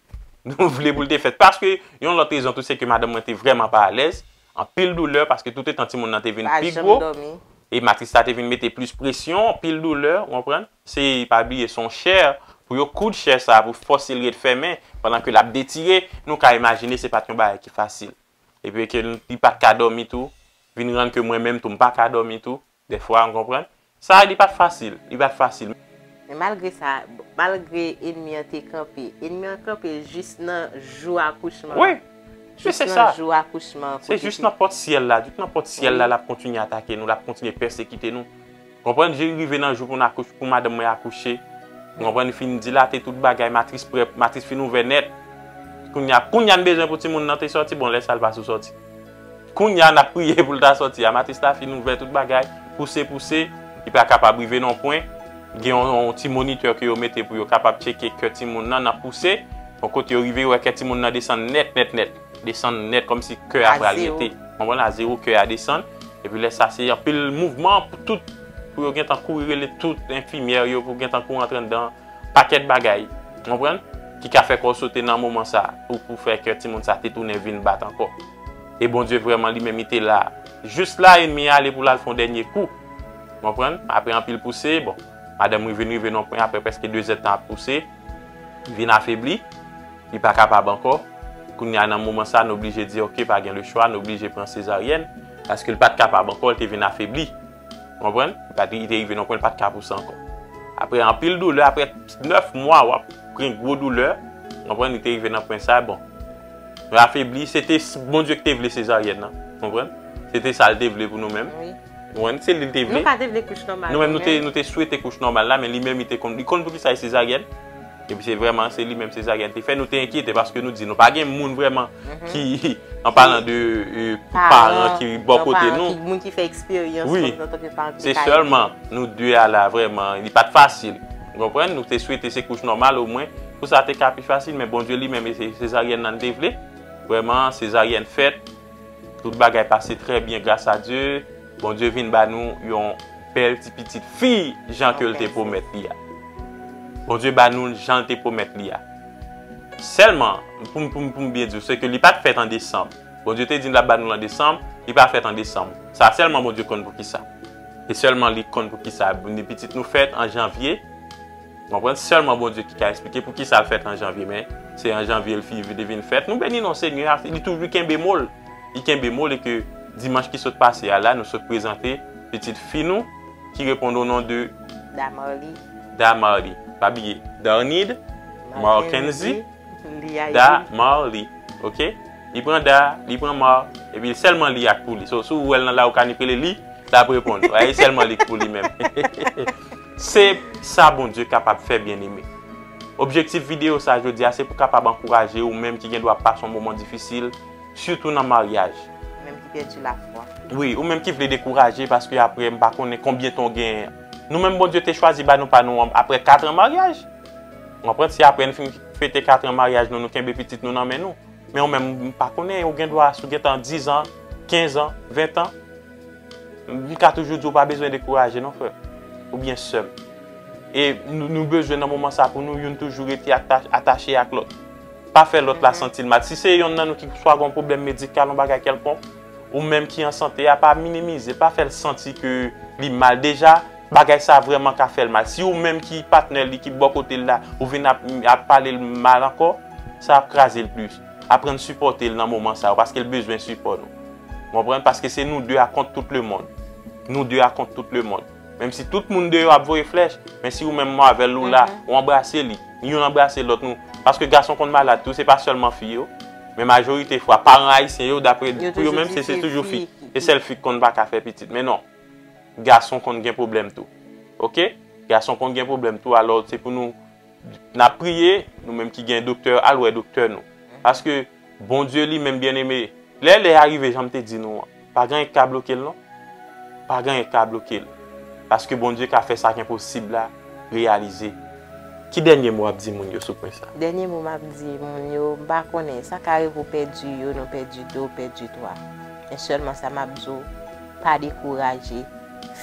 A: nou vle pou l te fèt. Paske, yon lòt rezon tou se ke madanm mwen te vrèman pa alèz, anpil doulè, paske toutetan timoun nan te vin pi gwo, e matris la te vin mete plis presyon, anpil doulè, ou konprann? Se pa bliye se yon chè pou yo koud chè sa pou fòse l ret fèmen pandan ke l ap detire, nou ka imajine se pa t yon bagay ki fasil. Epi e ke li pa t ka dòmi tou, vin rann ke mwen menm tou m pa ka dòmi tou dèfwa, nou konprann. Sa li pa t fasil, li pa t fasil.
B: Men malgre sa, malgre enmi an te kanpe, enmi an kanpe jis nan jou akouchman an,
A: jis nan jou akouchman an.
B: Se jis nan pòt syèl
A: la, jis nan pòt syèl la l ap kontinye atake nou, l ap kontinye pèsekite nou. Konprann je rive nan jou pou n akouche pou madanm mwen akouche ou konprann li fin dilate tout bagay matris prè matris fin ouvè nèt kounya kounya n bezwen pou timoun nan te sòti bon lè sa l pa sou sòti kounya n ap priye pou l ta sòti a matris la fin ouvè tout bagay pouse pouse li pa kapab rive non pwen gen yon ti monitè ke yo mete pou yo kapab tcheke kè timoun nan nan pouse bon kote yo rive yo wè kè timoun nan desann nèt nèt nèt. Desann nèt kòm si kè a pral rete. Konprann a zero kè a desann. E pi lè sa se anpil mouvman pou tout pou yo gen tan kouri rele tout enfimyè yo pou gen tan kouri antre anndan. Pakèt bagay. Konprann? Ki ka fè kò w sote nan moman sa a pou pou fè kè timoun sa a te tounen vin bat ankò. E Bondye vrèman li menm li te la. Jis la enmi a ale pou l al fè yon dènye kou. Konprann? Apre anpil pouse, bon, madanm Rivin rive nan yon pwen aprè prèske dezèdtan ap pouse, li vin afebli. Li pa kapab ankò. Kounye a nan moman sa, n oblije di ok pa gen lechwa, n oblije pran sezaryèn, paske l pa t kapab ankò, l te vin afebli. Ou konprann? Li te rive nan yon pwen li pa t ka pou sa ankò. Aprè anpil doulè, aprè 9 mwa w ap gen gwo doulè, ou konprann, li te rive nan pwen sa, bon, l afebli, se te Bondye ki te vle sezaryèn nan, ou konprann, se te sa l te vle pou nou menm. Nou wè, se
B: li li te
A: vle. Nou pa te vle kouch nòmal
B: nou menm. Nou menm nou te swete
A: kouch nòmal la men li menm li te konn, li konn poukisa li sezaryèn. Epi se vrèman se li menm sezaryèn te fè, nou te enkyete paske nou di nou pa gen moun vrèman ki an palan de paran ki bò kote nou. Moun ki fè eksperyans kòm
B: nou antanke paran ki te ka ede.
A: Se sèlman nou de a la vrèman, li pat fasil. Ou konprann? Nou te swete se kouch nòmal o mwen pou sa te ka pi fasil men Bondye li menm se sezaryèn nan li te vle. Vrèman sezaryèn fèt. Tout bagay pase trè byen gras a Dye, Bondye vin ba nou yon bèl ti pitit fi jan ke l te pwomèt li a. Bondye ba nou l jan l te pwomèt li a. Sèlman, pou m pou m byen di w, se ke li pa t fèt an desanm. Bondye te di n l ap ba nou l an desanm, li pa fèt an desanm. Sa sèlman Bondye konn poukisa. E sèlman li konn poukisa. Pitit nou fèt an janvye. Konprann sèlman Bondye ki ka esplike poukisa l fèt an janvye men se an janvye l fi li vin fèt nou beni non Senyè a li toujou kenbe mo l li kenbe mo l e ke dimanch ki sot pase a la nou sot prezante pitit fi nou ki reponn o non de Damarly Damarly pa bliye Darnid Marckenzy Damarly ok li pran Da li pran Mar epi l sèlman li a k pou li so si w wè l nan la ou ka ni k rele li l ap reponn w e sèlman li k pou li menm. Se sa Bondye kapab fè byeneme. Objektif videyo sa jodi a se pou kapab ankouraje ou menm ki gen dwa pase yon moman difisil, sitou nan maryaj. Ou menm ki pèdi
B: lafwa. Wi, ou menm ki vle
A: dekouraje paske apre m pa konnen konbyen tan w genyen. Nou menm Bondye te chwazi ba nou pa nou an apre katran maryaj. Ou konprann? Se apre n fin fete katran maryaj nou, nou kenbe pitit nou nan men nou. Men ou menm, m pa konnen, ou gen dwa si w gentan dizan, kenzan, ventan. M ka toujou di w pa bezwen dekouraje non frè m oubyen sè m. E nou bezwen nan moman sa pou nou youn toujou rete atache ak lòt. Pa fè lòt la santi l mal. Si se yonn nan nou ki swa gen yon pwoblèm medikal, yon bagay kèlkonk, ou menm ki an sante a, pa minimize, pa fè l santi ke li mal. Deja, bagay sa vrèman ka fè l mal. Si ou menm ki patnè li, ki bò kote l la, ou vin ap pale l mal ankò, sa ap kraze l plis. Aprann sipòte l nan moman sa yo paske l bezwen sipò nou. Ou konprann? Paske se nou 2 a kont tout le mond. Nou 2 a kont tout le mond. Menm si tout moun deyò ap voye flèch, men si ou menm mò avèl ou la, ou anbrase li, youn anbrase lòt nou. Paske gason konn malad tou, se pa sèlman fi yo. Men majorite fwa, paran ayisyen yo, dapre, pou yo menm, se se toujou fi. Se sèl fi ki konn pa ka fè pitit. Men non. Gason konn gen pwoblèm tou. Ok? Gason konn gen pwoblèm tou. Alò, se pou nou, n ap priye, nou menm ki gen doktè, al wè doktè nou. Paske. Bondye li menm byeneme, lè lè a rive jan m te di nou an, pa gen anyen k ka bloke l non. Pa gen anyen k ka bloke l. Paske Bondye ka fè sa k enposib la reyalize. Ki dènye mo w ap di moun yo sou pwen sa? Dènye mo m ap di
B: moun yo, m pa konnen, sa ka rive w pèdi youn, ou pèdi de, ou pèdi twa. Men sèlman sa m ap di w, pa dekouraje,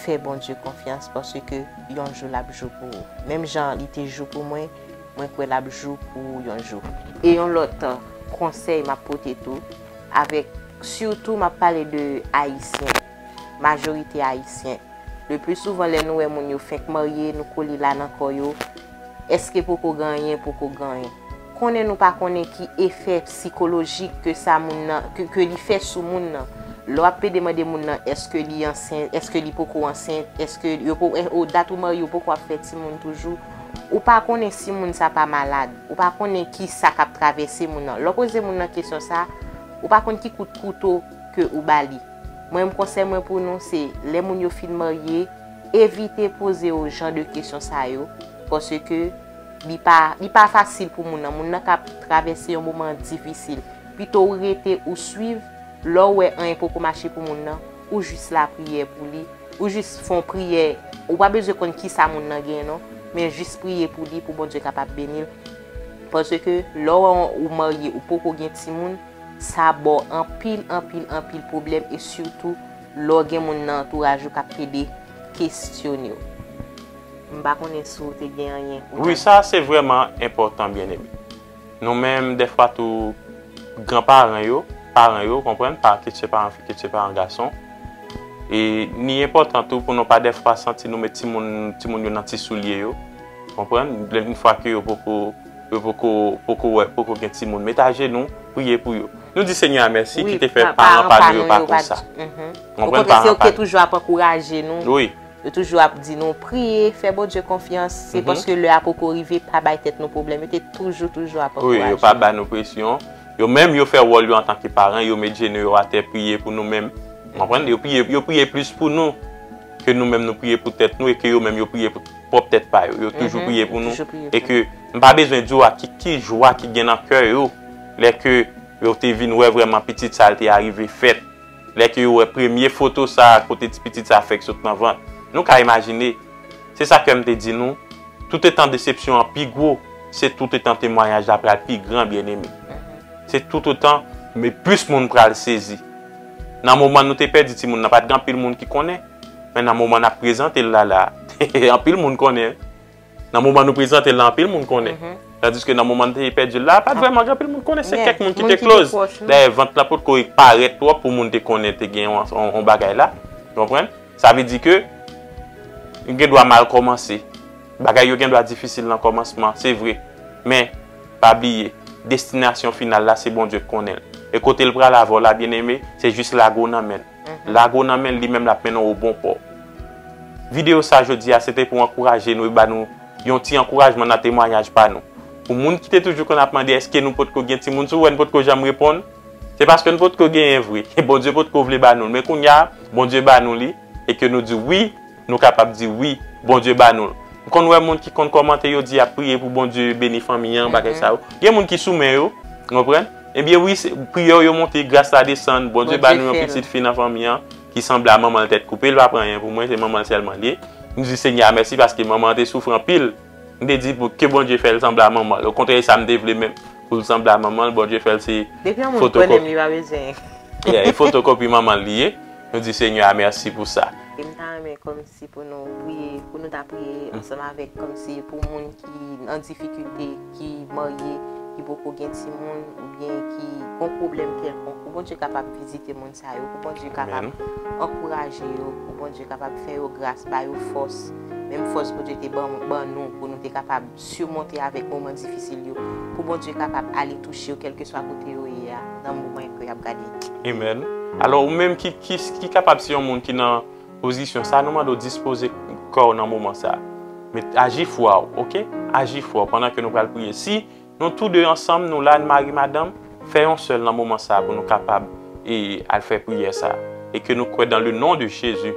B: fè Bondye konfyans paske yon jou l ap jou pou ou. Menm jan li te jou pou mwen. Mwen kwè lap jou pou ou yon jou. E yon lòt konsèy map pote tou avèk sitou map pale de ayisyen majorite ayisyen le pli souvan lè nou wè moun yo fenk marye nou kole la nan kò yo eske poko gen anyen poko gen anyen konnen nou pa konnen ki efè psikolojik ke sa moun nan ke li fè sou moun nan lè wap plede mande moun nan eske li ansent eske li poko ansent eske yo po dat ou marye ou poko ap fè timoun toujou. Ou pa konnen si moun sa pa malad. Ou pa konnen ki sa k ap travèse moun nan. Lè w poze moun nan kesyon sa, ou pa konn ki kout kouto ke ou ba li. Mwen menm konsèy mwen pou nou se lè moun yo fin marye, evite poze yo jan de kesyon sa yo paske li pa li pa fasil pou moun nan. Moun nan ka travèse yon moman difisil. Pito ou rete ou swiv, lè w wè anyen poko mache pou moun nan, Ou jis lapriyè pou li. Ou jis fon priyè. Ou pa bezwen konn kisa moun nan gen non. Men jis priye pou li pou Bondye kapab beni l. Paske lè ou marye ou poko gen timoun, sa ba w anpil, anpil, anpil pwoblèm e sitou lè w gen moun nan antouraj ou k ap pede kesyone w. M pa konnen si w te gen anyen pou w ta di. Wi sa se vrèman
A: enpòtan byeneme. Nou menm dèfwa tou gran paran yo, paran yo, konprann, pa kit se paran fi kit se paran gason. E ni enpòtan tou pou nou pa dèfwa santi nou met timoun, timoun yo nan ti soulye yo. Konprann, lè yn fwa ke yo poko, yo poko, poko wè, poko gen timoun. Met ajenou, priye pou yo. Nou di Senyè a mèsi ki te fè paran pa nou yo pa konsa. Konprann, paran pa nou.
B: Okontrè se yo ki te toujou ap ankouraje nou. Wi. Yo toujou ap
A: di nou
B: priye, fè Bondye konfyans, se paske lè a poko rive, pa bay tèt nou pwoblèm. Yo te toujou, toujou ap ankouraje nou. Wi, yo pa ba nou presyon.
A: Yo menm, yo fè wòl yo antanke paran, yo met jenou yo atè, priye pou nou menm. Ou konprann? Yo priye, yo priye plis pou nou ke nou menm nou priye pou tèt nou e ke yo menm yo priye pou pwòp tèt pa yo. Yo toujou priye pou nou. E ke m pa bezwen di ou ak ki jwa ki gen nan kè yo lè ke yo te vin wè vrèman pitit sa l te arive fèt. Lè ke yo wè premye foto sa a kote ti pitit sa a fèk sot nan vant, nou ka imajine. Se sa kè m te di nou, toutetan desepsyon an pi gwo, se toutetan temwanyaj la pral pi gran, byeneme. Se toutotan me plis moun pral sezi. Nan moman nou te pèdi timoun nan, pa t gen anpil moun ki konnen. Men nan moman n ap prezante l la la a, anpil moun konnen. Nan moman nou prezante l la anpil moun konnen. Tandiske nan moman nou te pèdi l la, pa t vrèman gen anpil moun ki konnen. Se kèk moun ki te close. Moun ki te pwòch nou. Dayè vant la pot ko parèt twòp pou moun te konnen te gen yon bagay la. Ou konprann? Sa vle di ke li gen dwa mal kòmanse. Bagay yo gen dwa difisil nan kòmansman. Se vre. Men, pa bliye, destinasyon final la se Bondye k konnen l. E kote l pral avè w la, byeneme, se jis lage w nan men l. Lago nan menl li menm lap mennen w o bon pò. Video sa jodi a se te pou ankouraje nou e ba nou yon ti ankourajman nan temwanyaj pa nou. Pou moun ki te toujou konn ap mande eske nou potko gen timoun si w wè n potko janm reponn se paske n potko genyen vre e Bondye potko vle ba nou l men kounya Bondye ba nou li e ke nou di wi Nou kapab di wi Bondye ba nou l. M konn wè moun ki konn kòmante yo di yap priye pou Bondye beni fanmi an bagay sa yo. Gen moun ki sou men yo, ou konprann? Ebyen wi se priyè w yo monte gras la desann Bondye ba nou yon pitit fi nan fanmi an ki sanble a manman l tèt koupe l pa pran anyen pou mwen se manman l sèlman l ye. Nou di Senyè a mèsi paske manman an te soufri anpil. M te di pou ke Bondye fè l sanble a manman l. Okontrè e sa m te vle menm. Pou l sanble a manman l, Bondye fè l se fotokopi. Depi yon moun kwè nan m li pa bezwen. Yeah, e fotokopi manman l li ye. Nou di Senyè a mèsi pou sa. E m ta renmen kòmsi
B: pou nou priye, pou nou ta priye ansanm avèk kòmsi pou moun ki an difikilte, ki marye, ki poko gen timoun oubyen ki gon pwoblèm kèlkonk pou Bondye kapab vizite moun sa. sa yo pou Bondye kapab ankouraje yo, pou Bondye kapab fè yo gras, ba yo fòs, menm fòs Bondye te ban nou pou nou te kapab simonte avèk moman difisil yo, pou Bondye kapab ale touche yo kèlkeswa kote yo ye a nan moman ke y ap gade. Amen.
A: Alò ou menm ki ki kapab se yon moun ki nan pozisyon sa a, nou mande w dispoze kò w nan moman sa a. Met aji fwa w, ok? Aji fwa w pandan ke nou pral priye. Si. Nou tou 2 ansanm nou la n mari madanm fè yon sèl nan moman sa pou nou kapab e al fè priyè sa e ke nou kwè dan le non de Jezi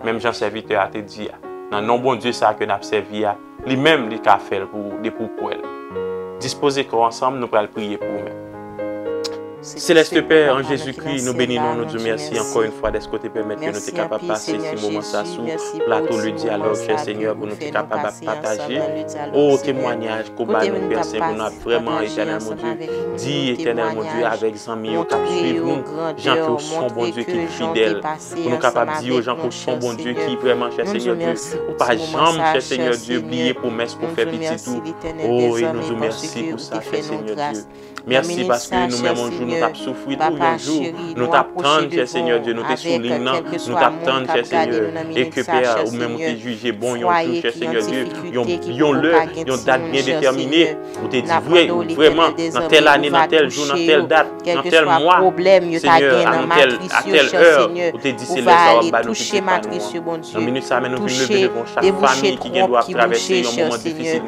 A: menm jan sèvitè a te di a nan non Bondye sa ke nap sèvi a li menm li ka fèl pou ou depi ou kwèl dispoze kò ansanm nou pral priye pou ou menm. Seleste Pè, an Jezi Kri, nou beni non, nou di w mèsi ankò yon fwa dèske w te pèmèt ke nou te kapab pase ti moman sa sou plato Le Dialogue, chè Senyè, pou nou te kapab ap pataje. O, temwanyaj ke w ba nou, Pè Sen, pou nou ap vrèman, Etènèl Mon Dye, di, Etènèl Mon Dye, avèk zanmi yo k ap suiv nou, jan ke w son Bondye ki fidèl. Pou nou kapab di yo, jan ke w son Bondye ki vrèman, chè Senyè Dye, ou pa janm, chè Senyè Dye, bliye pwomès ke w fè pitit ou. O, e nou di w mèsi pou sa, chè Senyè Dye. Merci paske nou menm yon jou nou tap soufri tou yon jou nou tap tann chè Seigneur Dieu nou te sou ligne nan nou tap tann chè Seigneur e ke pè a ou menm ou te jije bon yon jou chè Seigneur Dieu yon lè yon dat byen detèmine ou te di vre vreman nan tèl ane nan tèl jou nan tèl dat nan tèl mwa Seigneur a nan tèl a tèl heure ou te di se lè sa wap ba nou pitit pa nou an nan minit sa men nou vin leve devan chak fami ki gen dwa ap travèse yon moman difisil.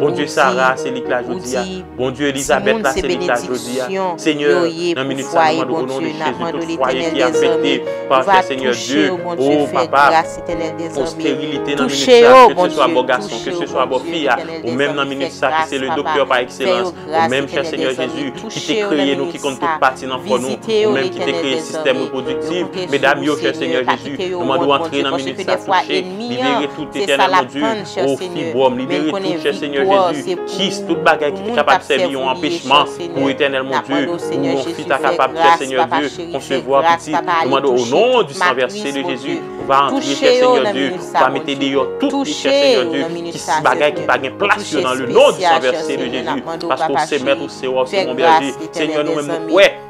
A: Bondye Sara se lik la jodi a. Bondye Elizabeth la se lik la jodi a. Senyè, nan minit sa nou mandou konon li chèche tout fwaye ki afekte pa chè senyè Diyo. O, papa, pou sterilite nan minit sa, ke se swa bo gason, ke se swa bo fi a, ou menm nan minit sa ki se le doktè pa ekselans, ou menm chè senyè Jezi, ki te kreye nou ki konn tout pati nan kò nou, ou menm ki te kreye sistèm reprodiktiv, medam yo chè senyè Jezi, nou mandou antre nan minit sa touche. Libere tout Etènèl mon Dieu oh fibrom libere tout chè Seigneur Jésus kis tout bagay ki te kapab sèvi yon anpechman pou Etènèl mon Dieu pou yon fi ta kapab chè Seigneur Dieu konsevwa pitit nou mande o non di san vèse de Jésus ou va antre chè Seigneur Dieu ou va mete deyò tout li chè Seigneur Dieu kis bagay ki pa gen plas yo nan le non di san vèse de Jésus paske ou se mèt ou se wa ou se bon bèje Seigneur nou menm nou kwè.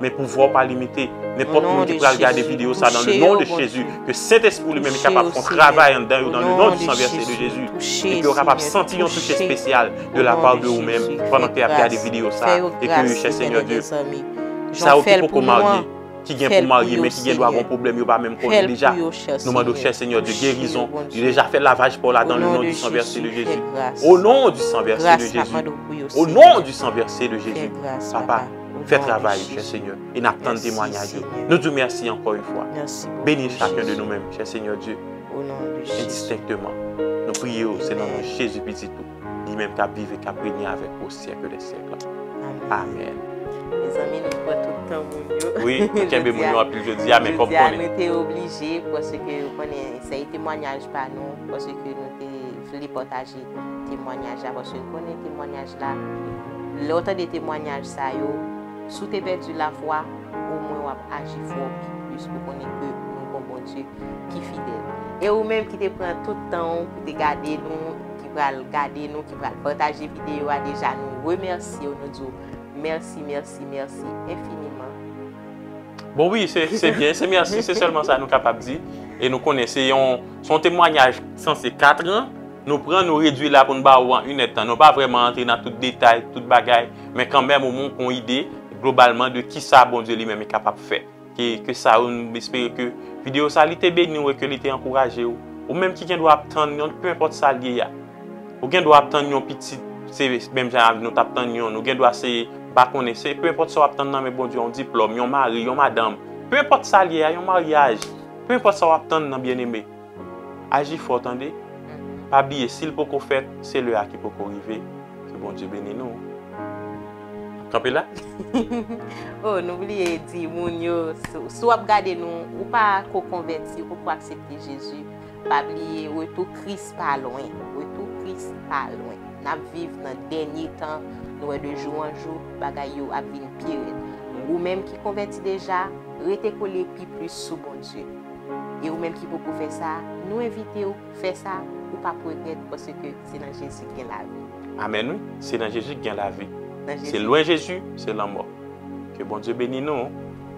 A: Men pouvwa w pa limite. Nenpòt moun ki pral gade videyo sa nan le non de Jezi, ke Sentespri ou li menm li kapab fon travay anndan yo nan le non di san vèse de Jezi, epi yo kapab santi yon touche espesyal de la pa de ou menm pandan ke yap gade videyo sa, e ke yo chè Senyè Dye. Sa yo ki poko marye, ki gen pou marye men ki gen dwa gon pwoblèm yo pa menm konnen deja, nou mande w chè Senyè Dye gerizon, li deja fè lavaj pa w la dan le non di san vèse de Jezi. O non di san vèse de Jezi. O non di san vèse de Jezi. Papa. Fè travay ou chè Senyè e nap tann temwanyaj ou. Nou di ou mèsi ankò yon fwa. Beni chakun de nou menm chè Senyè Dye endistenkteman. Nou priye ou se nan non Jezi pitit ou, li menm kap viv e kap règne avèk ou o syèk dè syèk la. Amen. Mezanmi
B: nou pran tout tan moun yo. Wi nou kenbe moun yo
A: anpil jodia men kom konnen. Jodia nou te oblije
B: paske ou konnen se temwanyaj pa nou paske nou te vle pataje temwanyaj la paske l konnen temwanyaj la lè w tande temwanyaj sa yo si w te pèdi lafwa omwen w ap aji fò pi plis pou w konnen ke nou gon Bondye ki fidèl e ou menm ki te pran tout tan w pou te gade nou ki pral gade nou ki pral pataje videyo a deja nou remèsye w nou di w mèsi mèsi mèsi enfiniman.
A: Bon wi se se byen se mèsi se sèlman sa nou kapab di e nou konnen se yon se yon temwanyaj sanse katran nou pran nou redwi la pou n ba ou an inèd tan nou pa vrèman antre nan tout detay tout bagay men kanmèm ou montre yon ide globalman de kisa Bondye li menm li kapab fè e ke sa ou nou espere ke videyo sa li te beni ou e ke li te ankouraje ou ou menm ki gendwa ap tann yon penenpòt sa l ye a. Ou gen dwa ap tann yon pitit, se menm jan avèk nou t ap tann youn. Ou gen dwa se, m pa konnen, se pe enpòt sa w ap tann nan men Bondye, yon diplòm, yon mari, yon madanm, pe enpòt sa l ye a, yon maryaj, pe enpòt sa w ap tann nan byeneme, aji fò tande. Pa bliye si l poko fèt, se lè a ki poko rive. Ke Bondye beni nou. N ap kanpe la? O,
B: nou bliye di moun yo, si w ap gade nou, ou pa ko konvèti, ou poko aksepte Jezi. Pa bliye retou kris pa lwen. Retou kris pa lwen. Nap viv nan dènye tan, nou wè de jou an jou bagay yo ap vin pi rèd. Ou menm ki konvèti deja, rete kole pi plis sou Bondye. E ou menm ki poko fè sa, nou envitew fè sa, ou pap regrèt paske se nan Jezi k gen lavi. Amen wi, se nan
A: Jezi k gen lavi. Se lwen Jezi, se lanmò. Ke Bondye beni nou.